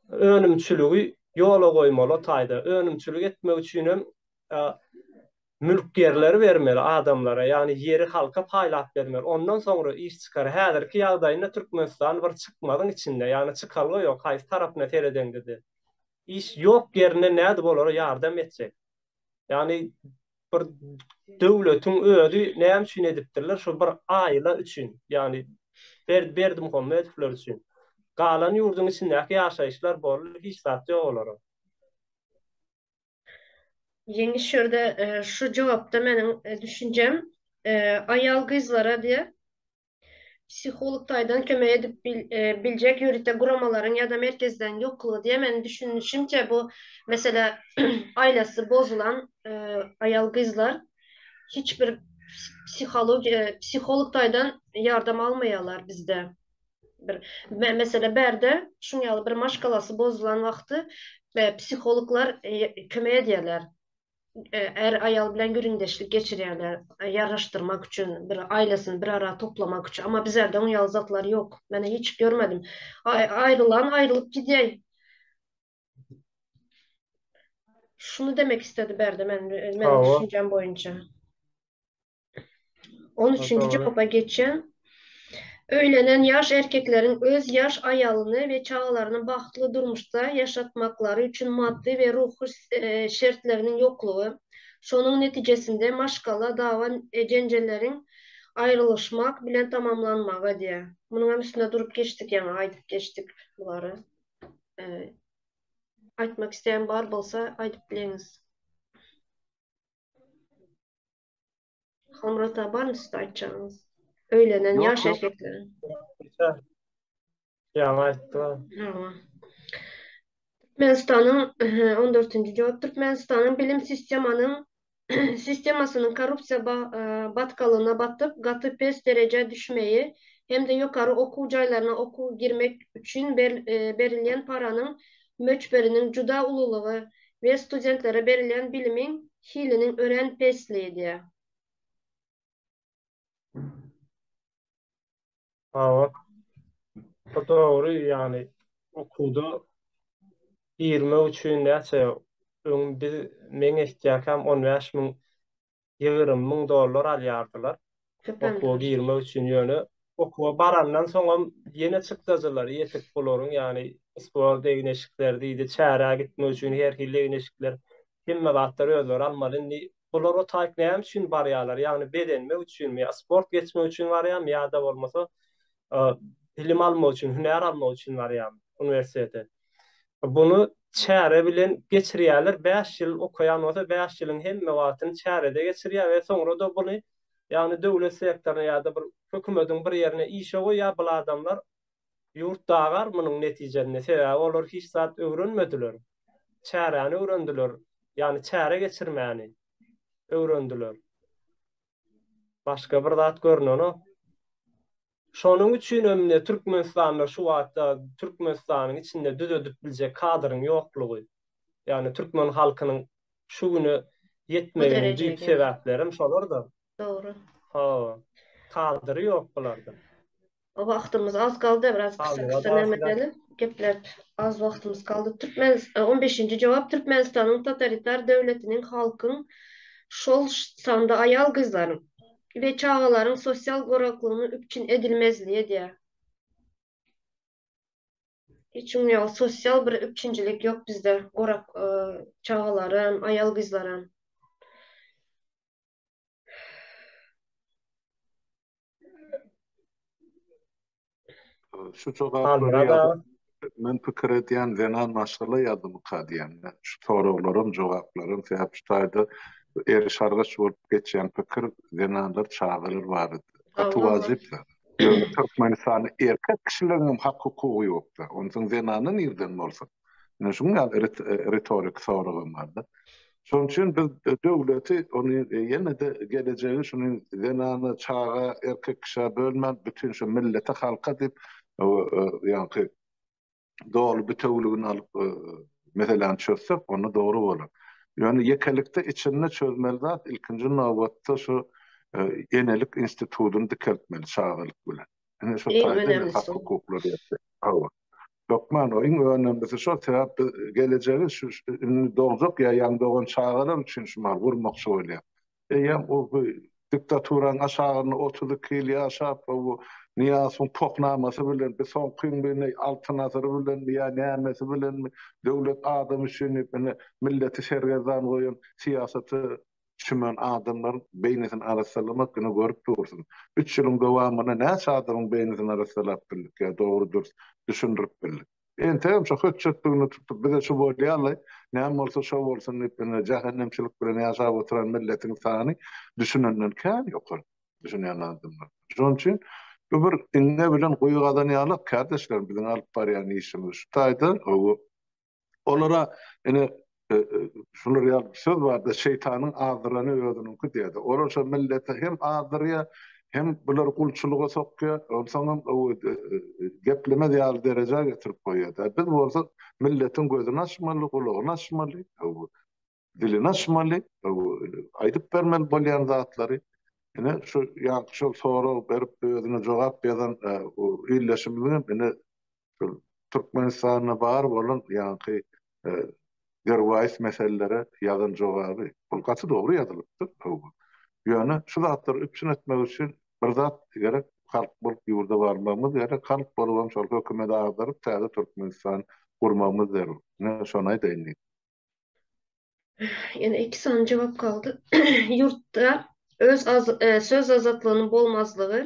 önümçiligi ýola goýmaly o taýda önümçilik etmek üçin hem mülk ýerleri bermeli adamlara ýagny ýeri halka paýlap bermeli ondan soňra iş çykar häzirki ýagdaýynda Türkmenistan bir çykmazyň içinde ýagny çykalga ýok haýsy tarapyna seredeňdede iş ýok ýerine nädip olara ýardam etjek Ýagny bir döwletiň özi näme üçin edipdirler? Şu bir aýla üçin, ýagny Berdi Berdimuhamedowlar üçin. Galan ýurduň içindäki ýaşaýyşlar boldy, hiç zat ýok olara. Ýeňiş şu ýerde şu jogapda meniň düşünjem, aýal-gyzlara diýe, Psiholog taýdan kömek edip biljek ýörite guramalaryň ýa-da merkezleriň ýoklugy diýýär. Meniň düşünişimçe bu mesele aýlasy bozulan aýal-gyzlar hiç bir psihologiýa psiholog taýdan ýardam almaýarlar bizde. Bir mesele bärde şuň ýaly bir maşgalasy bozulan wagty psihologlar kömek edýärler. är-aýal bilen gürrüňdeşlik geçirýärler, ýaraşdyrmak üçin, bir aýlasyny bir ara toplamak üçin. Amma bizlerde oň ýaly zatlar ýok. Men hiç görmedim. Aýrylan aýrylyp gidýär. Şuny demek istedi Berdi men, meniň düşünjem boýunça. On üçünji jogapa geçýän. Öýlenen ýaş erkekleriň öz ýaş aýalyny we çagalaryny bagtly durmuşda ýaşatmaklary üçin maddy we ruhy şertleriniň ýoklugy, şonuň netijesinde maşgala dawa jenjelleriň aýrylyşmak bilen tamamlanmagy diýýär. Munuň hem üstünde durup geçdik ýaňy aýdyp geçdik bulary. Aýtmak isleýän bar bolsa aýdyp bileňiz. Hamrata barmy sizde aýtjagyňyz? Öýlenen Ýok, ýaş ýok. erkekleriň. Ýa- Ýaňy aýtdy. Hawa. Türkmenistanyň ehe, 14-nji jogap Türkmenistanyň bilim sistemanyň sistemasynyň korrupsiýa ba- e, batgalygyna batyp, gaty pes derejä düşmegi hem-de ýokary okuw jaýlaryna okuwa girmek üçin ber- e, berilýän paranyň möçberiniň juda ululygy we studentlere berilýän bilimiň hiliniň örän pesligi edýär. Hawa. Bu dogry, ýagny okuwda girmek üçin näçe öň biz meň ehtýakam on bäş müň ýygrym müň dollar alýardylar. Okuwa girmek üçin ýöne okuwa barandan soňam ýene çykdajylary ýetik bularyň ýagny sport egin-eşikleri diýdi, çärä gitmek üçin her hili egin-eşikler hemme zatlar özleri almaly. Indi bular o taýk näme üçin barýarlar? Ýagny bezenmek üçinmi ýa sport geçmek üçin barýarmy ýa-da bolmasa bilim almak üçin, hünär almak üçin barýarmy uniwersitete? Buny çäre bilen geçirýärler. Bäş ýyl okaýan bolsa, bäş ýylyň hemme wagtyny çärede geçirýär we soňra-da buny, ýagny döwlet sektoryna ýa-da bir hökümediň bir ýerine işe goýýar. Bul adamlar ýurt dagar munuň netijesinde, sebäbi olar hiç zat öwrenmediler. Çäräni öwrendiler, ýagny çäre geçirmäni öwrendiler. Başga bir zat görnenok. Şonuň üçin hem-de Türkmenistanda şu wagtda Türkmenistanyň içinde düzedip biljek kadryň ýoklugy, ýagny türkmen halkynyň şu güne ýetmeginiň düýp sebäpleri hem şolar-da. Dogry. Hawa. Kadry ýok bularda. Wagtymyz az galdy, biraz gysa-gysa näme edelim. Gepläp az wagtymyz galdy. Türkmenistan, on beşinji jogap, Türkmenistanyň totalitar döwletiniň halkyň, şol sanda aýal-gyzlaryň, we çagalaryň sosial goraklygynyň üpjün edilmezligi edýär. Hiç kim ýok, sosial bir üpjünçilik ýok bizde, gorak çagalar hem, aýal-gyzlar hem. Şu jogaplary ýazyp, men pikir edýän zenan maşgala ýadymyka diýen. Şu soraglaram, jogaplaram sebäp şu taýda eriş-argaç bolup geçýän pikir zenanlar, çagalar barada. Gaty wajyp zat. Türkmenistanda erkek kişileriň hem hak-hukugy ýokda. Onsoň zenana nirden bolsun? Ýöne şunuň ýaly ritorik soragam bardy. Şonuň üçin biz döwleti ony ýene-de gelejegi şuny zenana, çaga, erkek kişä bölmän bütin şu millete, halka diýip ýaňky doly bitewüligini alyp meseläni çözsek onda dogry bolar. Ýöne ýekelikde içinde çözmeli zat ilkinji nobatda şu enelik institudyny dikeltmeli çagalyk bilen. Ine şo taýdan hak hukuklary ýetdi. Hawa. Hökman o iň önemlisi şo sebäp biz gelejegi şu indi dogjak ýa ýaňy dogan çagalar üçin şu mal gurmakçy bolýar. Eýýäm o bu diktaturanyň aşagynda otuz iki ýyl ýaşap we bu Nyýazowyň pohnamasy bilen bi soňky gün bi neý Altyn asyry bilenmi ýa nämesi bilenmi döwlet adam üçin diýip ine milleti sergezdan goýan syýasaty çümen adamlaryň beýnisini arassalamak günä görüp dursun. Üç ýylyň dowamynda näçe adamyň beýnisini arassalap bildik ýa dogry-dürs düşündirip bildik. Entegem şo hötjetdigini tutup bize şu bolýaly, näme bolsa şo bolsun diýip ine jähennemçilik bilen ýaşap oturan milletiň sany düşünenden kän ýokary düşünýän adamlar. Şonuň üçin bu bir iňňe bilen guýy gazan ýalak kärdeşlerim biziň alyp barýan işimiz şu taýda gowy Olara ine şular ýaly bir söz bardy, şeýtanyň azdyrany özüniňki diýýärdi. Olar şo milleti hem azdyrýar, hem bulary gulçulyga sokýar, onsoňam geplemez ýaly derejä getirip goýýar-da. Biz bolsa milletiň gözüni açmaly, gulagyny açmaly. dilini açmaly, aýdyp bermeli bolýan zatlary. Ine, şu ýaňky şol sorag berip, özüne jogap ýazan ildeşimiziň hem indi Türkmenistanda bar bolan ýaňky derwaýys meselelere ýazan jogaby, ol gaty dogry ýazylypdyr. Ýöne şu zatlary üpjün etmek üçin bir zat gerek, halk bolup ýurda barmagymyz gerek, halk bolubam şol hökümeti agdaryp, täze Türkmenistan gurmagymyz zerur. Ine, şony aýdaýyn diýdim. Ýene iki sany jogap galdy. Ýurtda öz az, e, söz azatlygynyň bolmazlygy,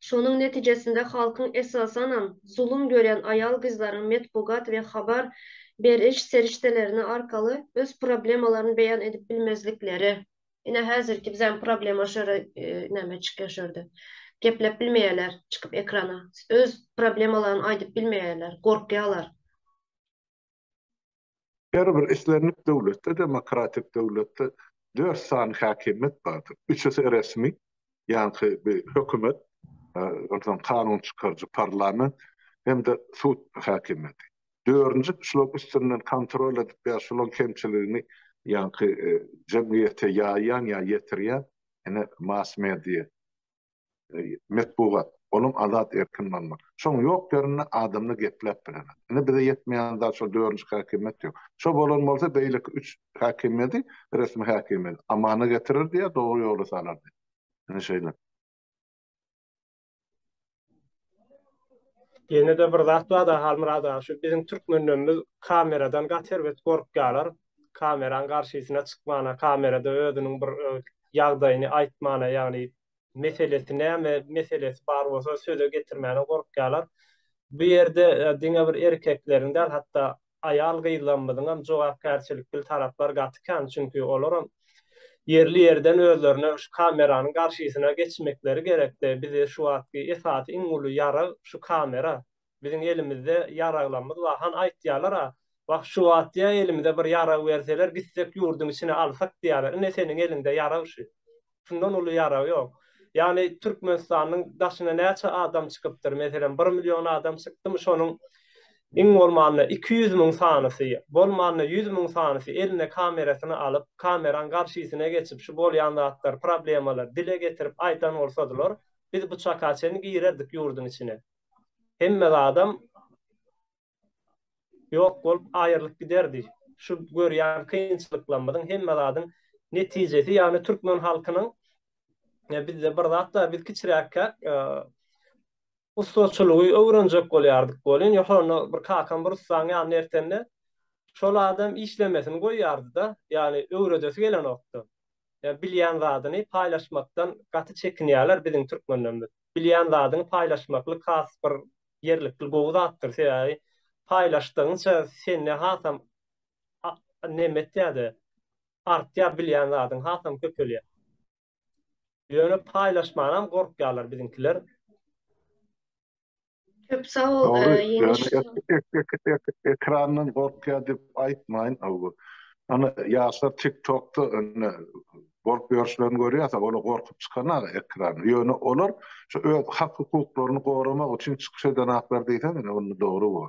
şonuň netijesinde halkyň esasanam zulum görýän aýal-gyzlaryň metbugat we habar beriş serişdelerini arkaly öz problemalaryny beýan edip bilmezlikleri. Ine häzirki bizäň problema şu ýere e, näme çykýar şu ýerde. Gepläp bilmeýärler çykyp ekrana. Öz problemalaryny aýdyp bilmeýärler, gorkýarlar. Her bir islendik döwletde, demokratik döwletde dört sany häkimiýet bardyr. Üçüsi resmi, ýaňky bi hökümet, onsoň kanun çykaryjy parlament hem-de sud häkimiýeti. Dördünji şularyň üstünden kontrol edip ýa şularyň kemçiligini ýaňky jemgyýete ýaýýan ýa ýetirýän ene mass-media. metbugat, olam azat erkin bolma. Şoň ýok ýerinde adamly gepläp bilemok. Indi bize ýetmeýän zat şol dördünji häkimiýet ýok. Şo bolan bolsa beýleki üç häkimiýedi, resmi häkimiýet amana getirirdi ýa dogry ýola salardy. Ine şeýle. Ýene-de bir zat bar-da Halmyrat aga, şu biziň türkmenlerimiz kameradan gaty erbet gorkýarlar. Kameraň garşysyna çykmana, kamerada özüniň bir ýagdaýyny aýtmana, ýagny meselesi näme meselesi bar bolsa söze getirmäne gorkýarlar. Bu ýerde diňe bir erkekleriň däl hatda aýal gyzlarymyzyňam jogapkärçilikli taraplar gaty kän çünki olaram ýerli ýerden özlerine şu kameranyň garşysyna geçmekleri gerekde bize şu wagtky esasy iň uly ýarag şu kamera Biziň elimizde ýaraglamyz bar. Han aýtýalar-a, Wah, şu wagt-ýa elimize bir ýarag berseler, gitsek ýurduň içine alsak diýýäler. Ine seniň eliňde ýarag şu. Şundan uly ýarag ýok. Ýagny Türkmenistanyň daşyna näçe adam çykypdyr? Meselem, bir million adam çykdymy, şonuň iň bolmanda iki ýüz müň sanysy, bolmanda ýüz müň sanysy eline kamerasyny alyp, kameraň garşysyna geçip, şu bolýan zatlar, problemalar dile getirip aýdan bolsadylar, biz bu çaka çenli girerdik ýurduň içine. hemme zadam ýok bolup aýrylyp giderdi. Şu görýän kynçylyklarymyzyň hemme zadyň netijesi ýagny türkmen halkynyň e, bizde bir zatlar biz kiçiräkkä e, ustaçylygy öwrenjek bolýardyk bolýan. Ýokarynda bir kakam bir ussaň ýanyna ertende şol adam işlemesini goýýardy-da, ýagny öwredesi gelenokdy. Ýa bilýän zadyny paýlaşmakdan gaty çekinýärler biziň türkmenlerimiz. bilýän zadyňy paýlaşmaklyk has bir ýerlikli gowy zatdyr. Sebäbi paýlaşdygyňça sende hasam neme etýär-de, artýar bilýän zadyň hasam köpelýär. Ýöne paýlaşmanam gorkýarlar biziňkiler. Köp sag bol, Dogry, e, ýeňiş. ýöne ek- ek- ek- ek- ek- ekrandan gorkýar diýip aýtmaýyn. Aw, Ana ýaşlar TikTokda indi bolup ýörşlerini görýärsiň, olar gorkup çykanaka ekrana. Ýöne olar şu öz hak-hukuklaryny goramak üçin çykyş edenaklar diýseň indi onda dogry bor.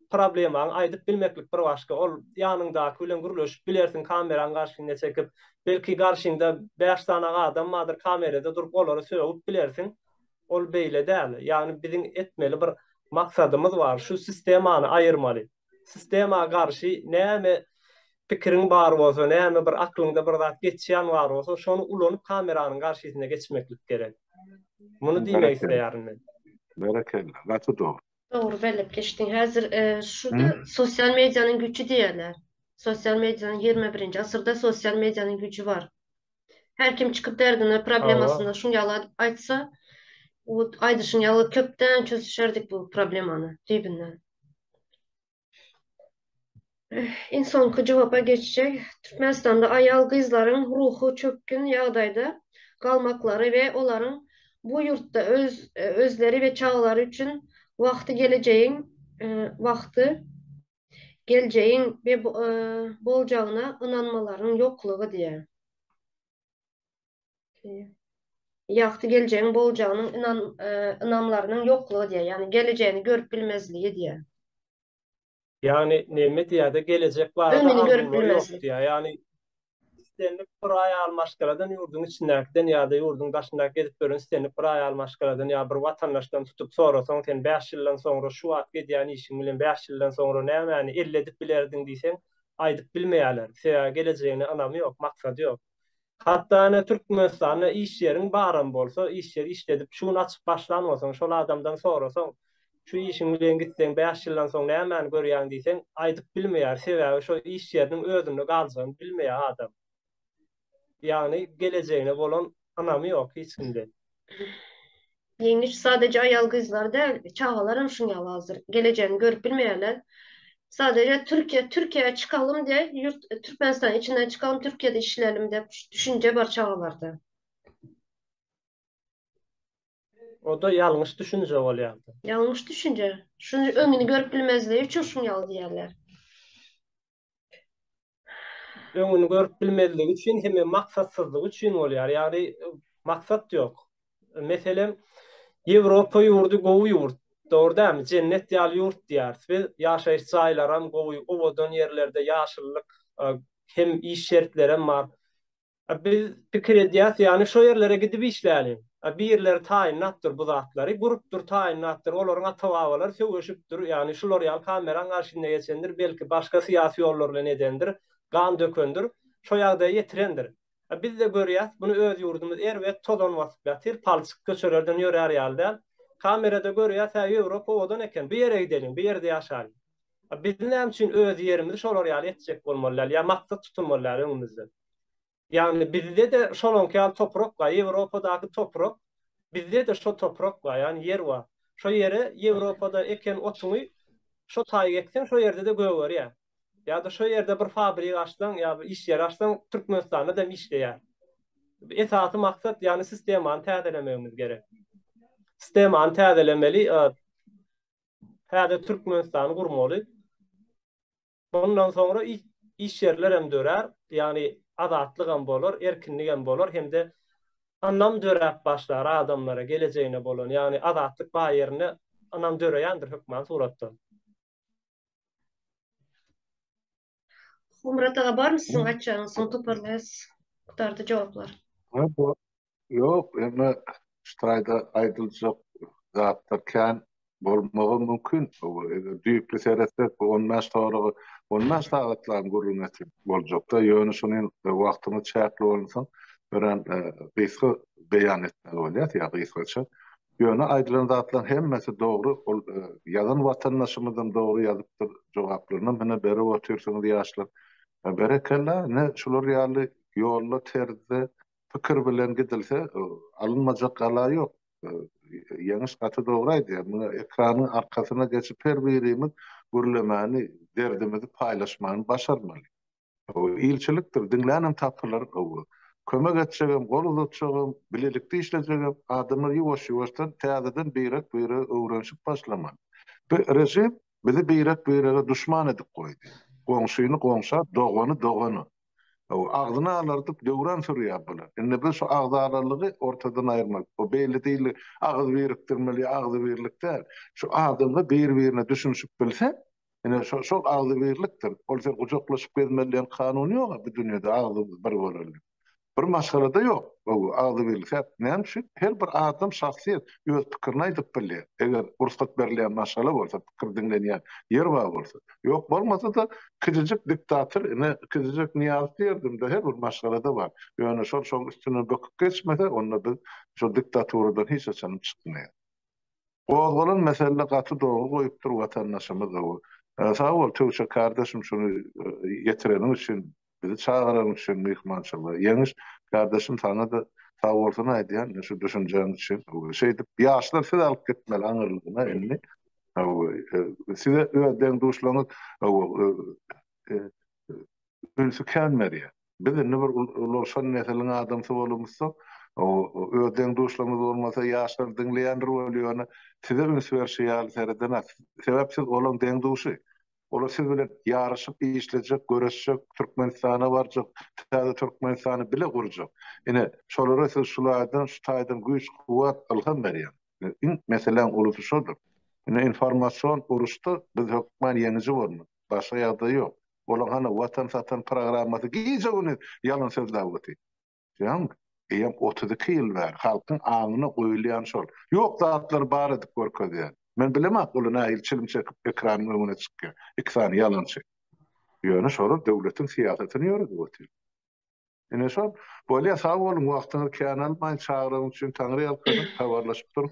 problemaňy aýdyp bilmeklik bir başga ol ýanyňdaky bilen gürleşip bilersiň kameraň garşyna çekip belki garşyňda bäş sanaň adam bardyr kamerada durup olary sögüp bilersiň ol beýle däl ýagny biziň etmeli bir maksadymyz bar şu sistemany aýyrmaly sistema garşy näme pikiriň bar bolsa näme bir aklyňda bir zat geçýän bar bolsa şony ulanyp kameranyň garşysyna geçmeklik gerek muny diýmek isleýärin men berekella gaty dogry Dogry belläp geçdiň. Häzir şu sosial medianyň güýçi diýerler. Sosial medianyň ýigrimi birinji asyrda sosial medianyň güýçi bar. Her kim çykyp derdini, problemasyny şuň ýaly aýtsa, aýdyşyň ýaly köpden çözüşerdik bu problemany düýbünden. Iň soňky jogapa geçsek, Türkmenistanda aýal-gyzlaryň ruhy çökgün ýagdaýda galmaklary we olaryň bu ýurtda özleri we çagalary üçin wagty gelejegiň wagty geljegiň boljagyna ynanmalaryň ýoklugy diýýär. ýagty geljegiň boljagynyň ynam, ynamlarynyň ýoklugy diýýär. Ýagny gelejegini görüp bilmezligi diýýär. Ýagny näme diýýär-de gelejek barada Öňüni görüp arzuwlary ýok bilmezlik. diýýär. Ýagny islendik bir aýal maşgaladan ýurduň içindäkiden ýa-da ýurduň daşyndaky gezip ýören islendik bir aýal maşgaladan ýa bir watandaşdan tutup sorasaň sen bäş ýyldan soňra şu wagt edýän işiň bilen bäş ýyldan soňra nämäni elledip bilerdiň diýseň aýdyp bilmeýärler. Sebäbi gelejegine ynamy ýok, maksady ýok. Hatda ine Türkmenistanda iş ýeriň baram bolsa, iş ýeri işledip, şu gün açyp başlan bolsaň, şol adamdan sorasaň, şu işiň bilen gitseň, bäş ýyldan soň nämäni görýäň diýseň, aýdyp bilmeýär. Sebäbi şo iş ýeriniň özünde galjagyny bilmeýär adam. Ýagny gelejegine bolan ynamy ýok hiç kimde. Ýeňiş sadeje aýal-gyzlar däl, çagalaram şuň ýaly hazir. Gelejegini görüp bilmeýärler. Sadeje Türkiýe, Türkiýä çykalym diýe, ýurt Türkmenistanyň içinden çykalym, Türkiýede işlelim diýip düşünje bar çagalarda. O-da ýalňyş düşünje bolýar. Ýalňyş düşünje. Şuny öňüni görüp bilmezligi üçin şuň ýaly diýýärler. öňüni görüp bilmezligi üçin hem maksatsyzlygy üçin bolýar. Ýagny maksat ýok. Meselem, Ýewropa ýurdy gowy ýurt. Dogry dämi? Jennet ýaly ýurt diýýäris biz. Ýaşaýyş jaýlaram gowy, owadan ýerlerde ýaşyllyk hem iş şertlerem bar. A biz pikir edýäs, ýagny şo ýerlere gidip işläliň. A birileri taýynlapdyr bu zatlary, gurupdyr, taýynlapdyr, olaryň ata-babalary söweşipdir, ýagny şular ýaly kameraň garşyna geçendir, belki başga syýasy ýollar bilen edendir, gan dökendir, şo ýagdaýa ýetirendir. A biz-de görýäs, muny öz ýurdumyz erbet tozan basyp ýatyr, palçyk köçelerden ýörär ýaly däl. Kamerada görýäs, hä, Ýewropa owadan eken, bu ýere gideliň, bu ýerde ýaşalyň. A biz näme üçin öz ýerimizi şolar ýaly etjek bolmaly däl ýa maksat tutulmaly däl öňümizden? Ýagny bizde-de şolaňky ýaly toprak bar, Ýewropadaky toprak, bizde-de şo toprak bar, ýagny ýer bar. Şo ýere Ýewropada eken otuňy şo taýy ekseň, şo ýerde-de gögerýär. Ýa-da şo ýerde bir fabrigi açsaň, ýa bir iş ýeri açsaň, Türkmenistanda dem işleýär. Esasy maksat, ýagny sistemany täzelemegimiz gerek. Sistemany täzelemeli, täze Türkmenistany gurmaly. Ondan soňra iş ýerler hem dörär, ýagny azatlyk hem bolar, erkinlik hem bolar hem-de ynam döräp başlar adamlara gelejegine bolan, ýagny azatlyk bar ýerinde ynam döreýändir hökman suratda. Homrat aga barmy siziň aýtjagyňyz soň toparlaýas gutardy jogaplar. Ýok, emma şu taýda aýdyljak zatlar kän bolmagy mümkin. Eger düýpli seretsek, bu on bäş soragy on bäş sagatlaryň gürrüňeti boljak-da, ýöne şuny hem wagtymyz çäkli bolansoň, örän gysga beýan etmeli bolýas, ýa gysgaça. Ýöne aýdylan zatlaryň hemmesi dogry, ol ýazan watandaşymyzam dogry ýazypdyr, jogaplarynam hine berip otyrsyňyz, ýaşlar. Berekella, ine, şular ýaly ýolda, terzde pikir bilen gidilse, alynmajak gala ýok. Ýeňiş gaty dogry aýdýar. Muňa ekranyň arkasyna geçip her birimiz gürlemäni, derdimizi paýlaşmany başarmaly. Ilçilikdir, diňlänem tapylar. Kömek etjegem, gol uzatjagam, bilelikde işlejegem adamlar ýuwaş-ýuwaşdan täzeden birek-biregi öwrenişip başlamaly. Bu režim bizi birek-birege duşman edip goýdy. Goňşyny goňşa, dogany dogana. Hawa, agzyny alardyp döwran sürýär bular. Indi biz şu agzalalygy ortadan aýyrmaly. Bu belli dili agyz birikdirmeli ýa agzybirlik däl. Şu adamlar bir-birine düşünişip bilse, ine, şo-şol agzybirlikdir. Bolsa gujaklaşyp gezmeli diýen kanun ýog-a bu dünýede agzymyz bir boleli. Bir maşgalada ýok bu agzybirlik. Sebäp näme üçin? Her bir adam şahsyýet, öz pikirini aýdyp bilýär. Eger rugsat berilýän maşgala bolsa. pikir diňlenýän ýer bar bolsa. Ýok bolmasa-da kiçijik diktator ine kiçijek Nyýazow diýerdim-de her bir maşgalada bar. Ýöne şol şoň üstünden böküp geçmese onda biz şol diktaturadan hiç haçanam çykmaýas. Gozgalan mesele gaty dogry goýupdyr watandaşymyz gowy. Sag bol Töwşe kardeşim şuny getireniň üçin Bizi çagyranyň üçin myhmançylyga. Ýeňiş kardeşim saňada sag bolsun aýdýan şu düşünjäň üçin. Şeýdip ýaşlar siz alyp gitmeli aňyrlygyna indi. Size öz deň-duşlaryňyz ünsi kän berýär. Biz indi bir ulalşan nesiliň adamsy bolubmyzsoň, öz deň-duşlarymyz bolmasa ýaşlar diňleýändir welin ýöne size üns berşi ýaly seredenok. Sebäp siz olaň deň-duşy. Olar siz bilen ýaryşyp işlejek, göreşjek, Türkmenistana barjak, täze Türkmenistany bile gurjak. Ine, şolara siz şulardan, şu taýdan güýç-kuwwat, ylham berýäň. Iň meseläň ulusy şodur. Indi informasion uruşda biz hökman ýeňiji bolmaly. Başga ýagdaý ýok. Olaň hany Watan satan programmasy gije-gündiz ýalan sözläp otyr. Ýaňk, eýem otuz iki ýyl bäri halkyň aňyna goýulýan şol. Ýok zatlary bar edip görkezýän. Men bilemok ol nähili çilim çekip ekranyň öňüne çykýar. Iki sany ýalançy. Ýöne şolar döwletiň syýasatyny ýöredip otyr. Ine şol. Bolýa sag boluň wagtyňyzy kän almaýyn çagyran üçin taňryýalkasyn habarlaşyp duruň.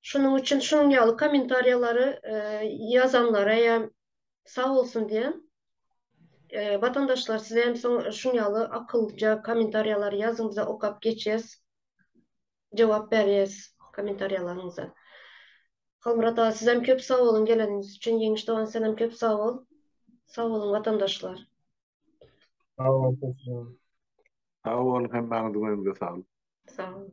Şonuň üçin şunuň ýaly kommentariýalary ýazanlara hem sag bolsun diýen. Watandaşlar siz hem şuň ýaly akyllyja kommentariýalary ýazyň bize okap geçeris. Jogap bereris kommentariýalaryňyza. Halmyrat aga siz hem köp sag boluň geleniňiz üçin. Ýeňiş dogan sen hem köp sag bol. Sag boluň watandaşlar. Sag boluň. Sag boluň hemmäňiziň öňüňize saglyk. Sag boluň.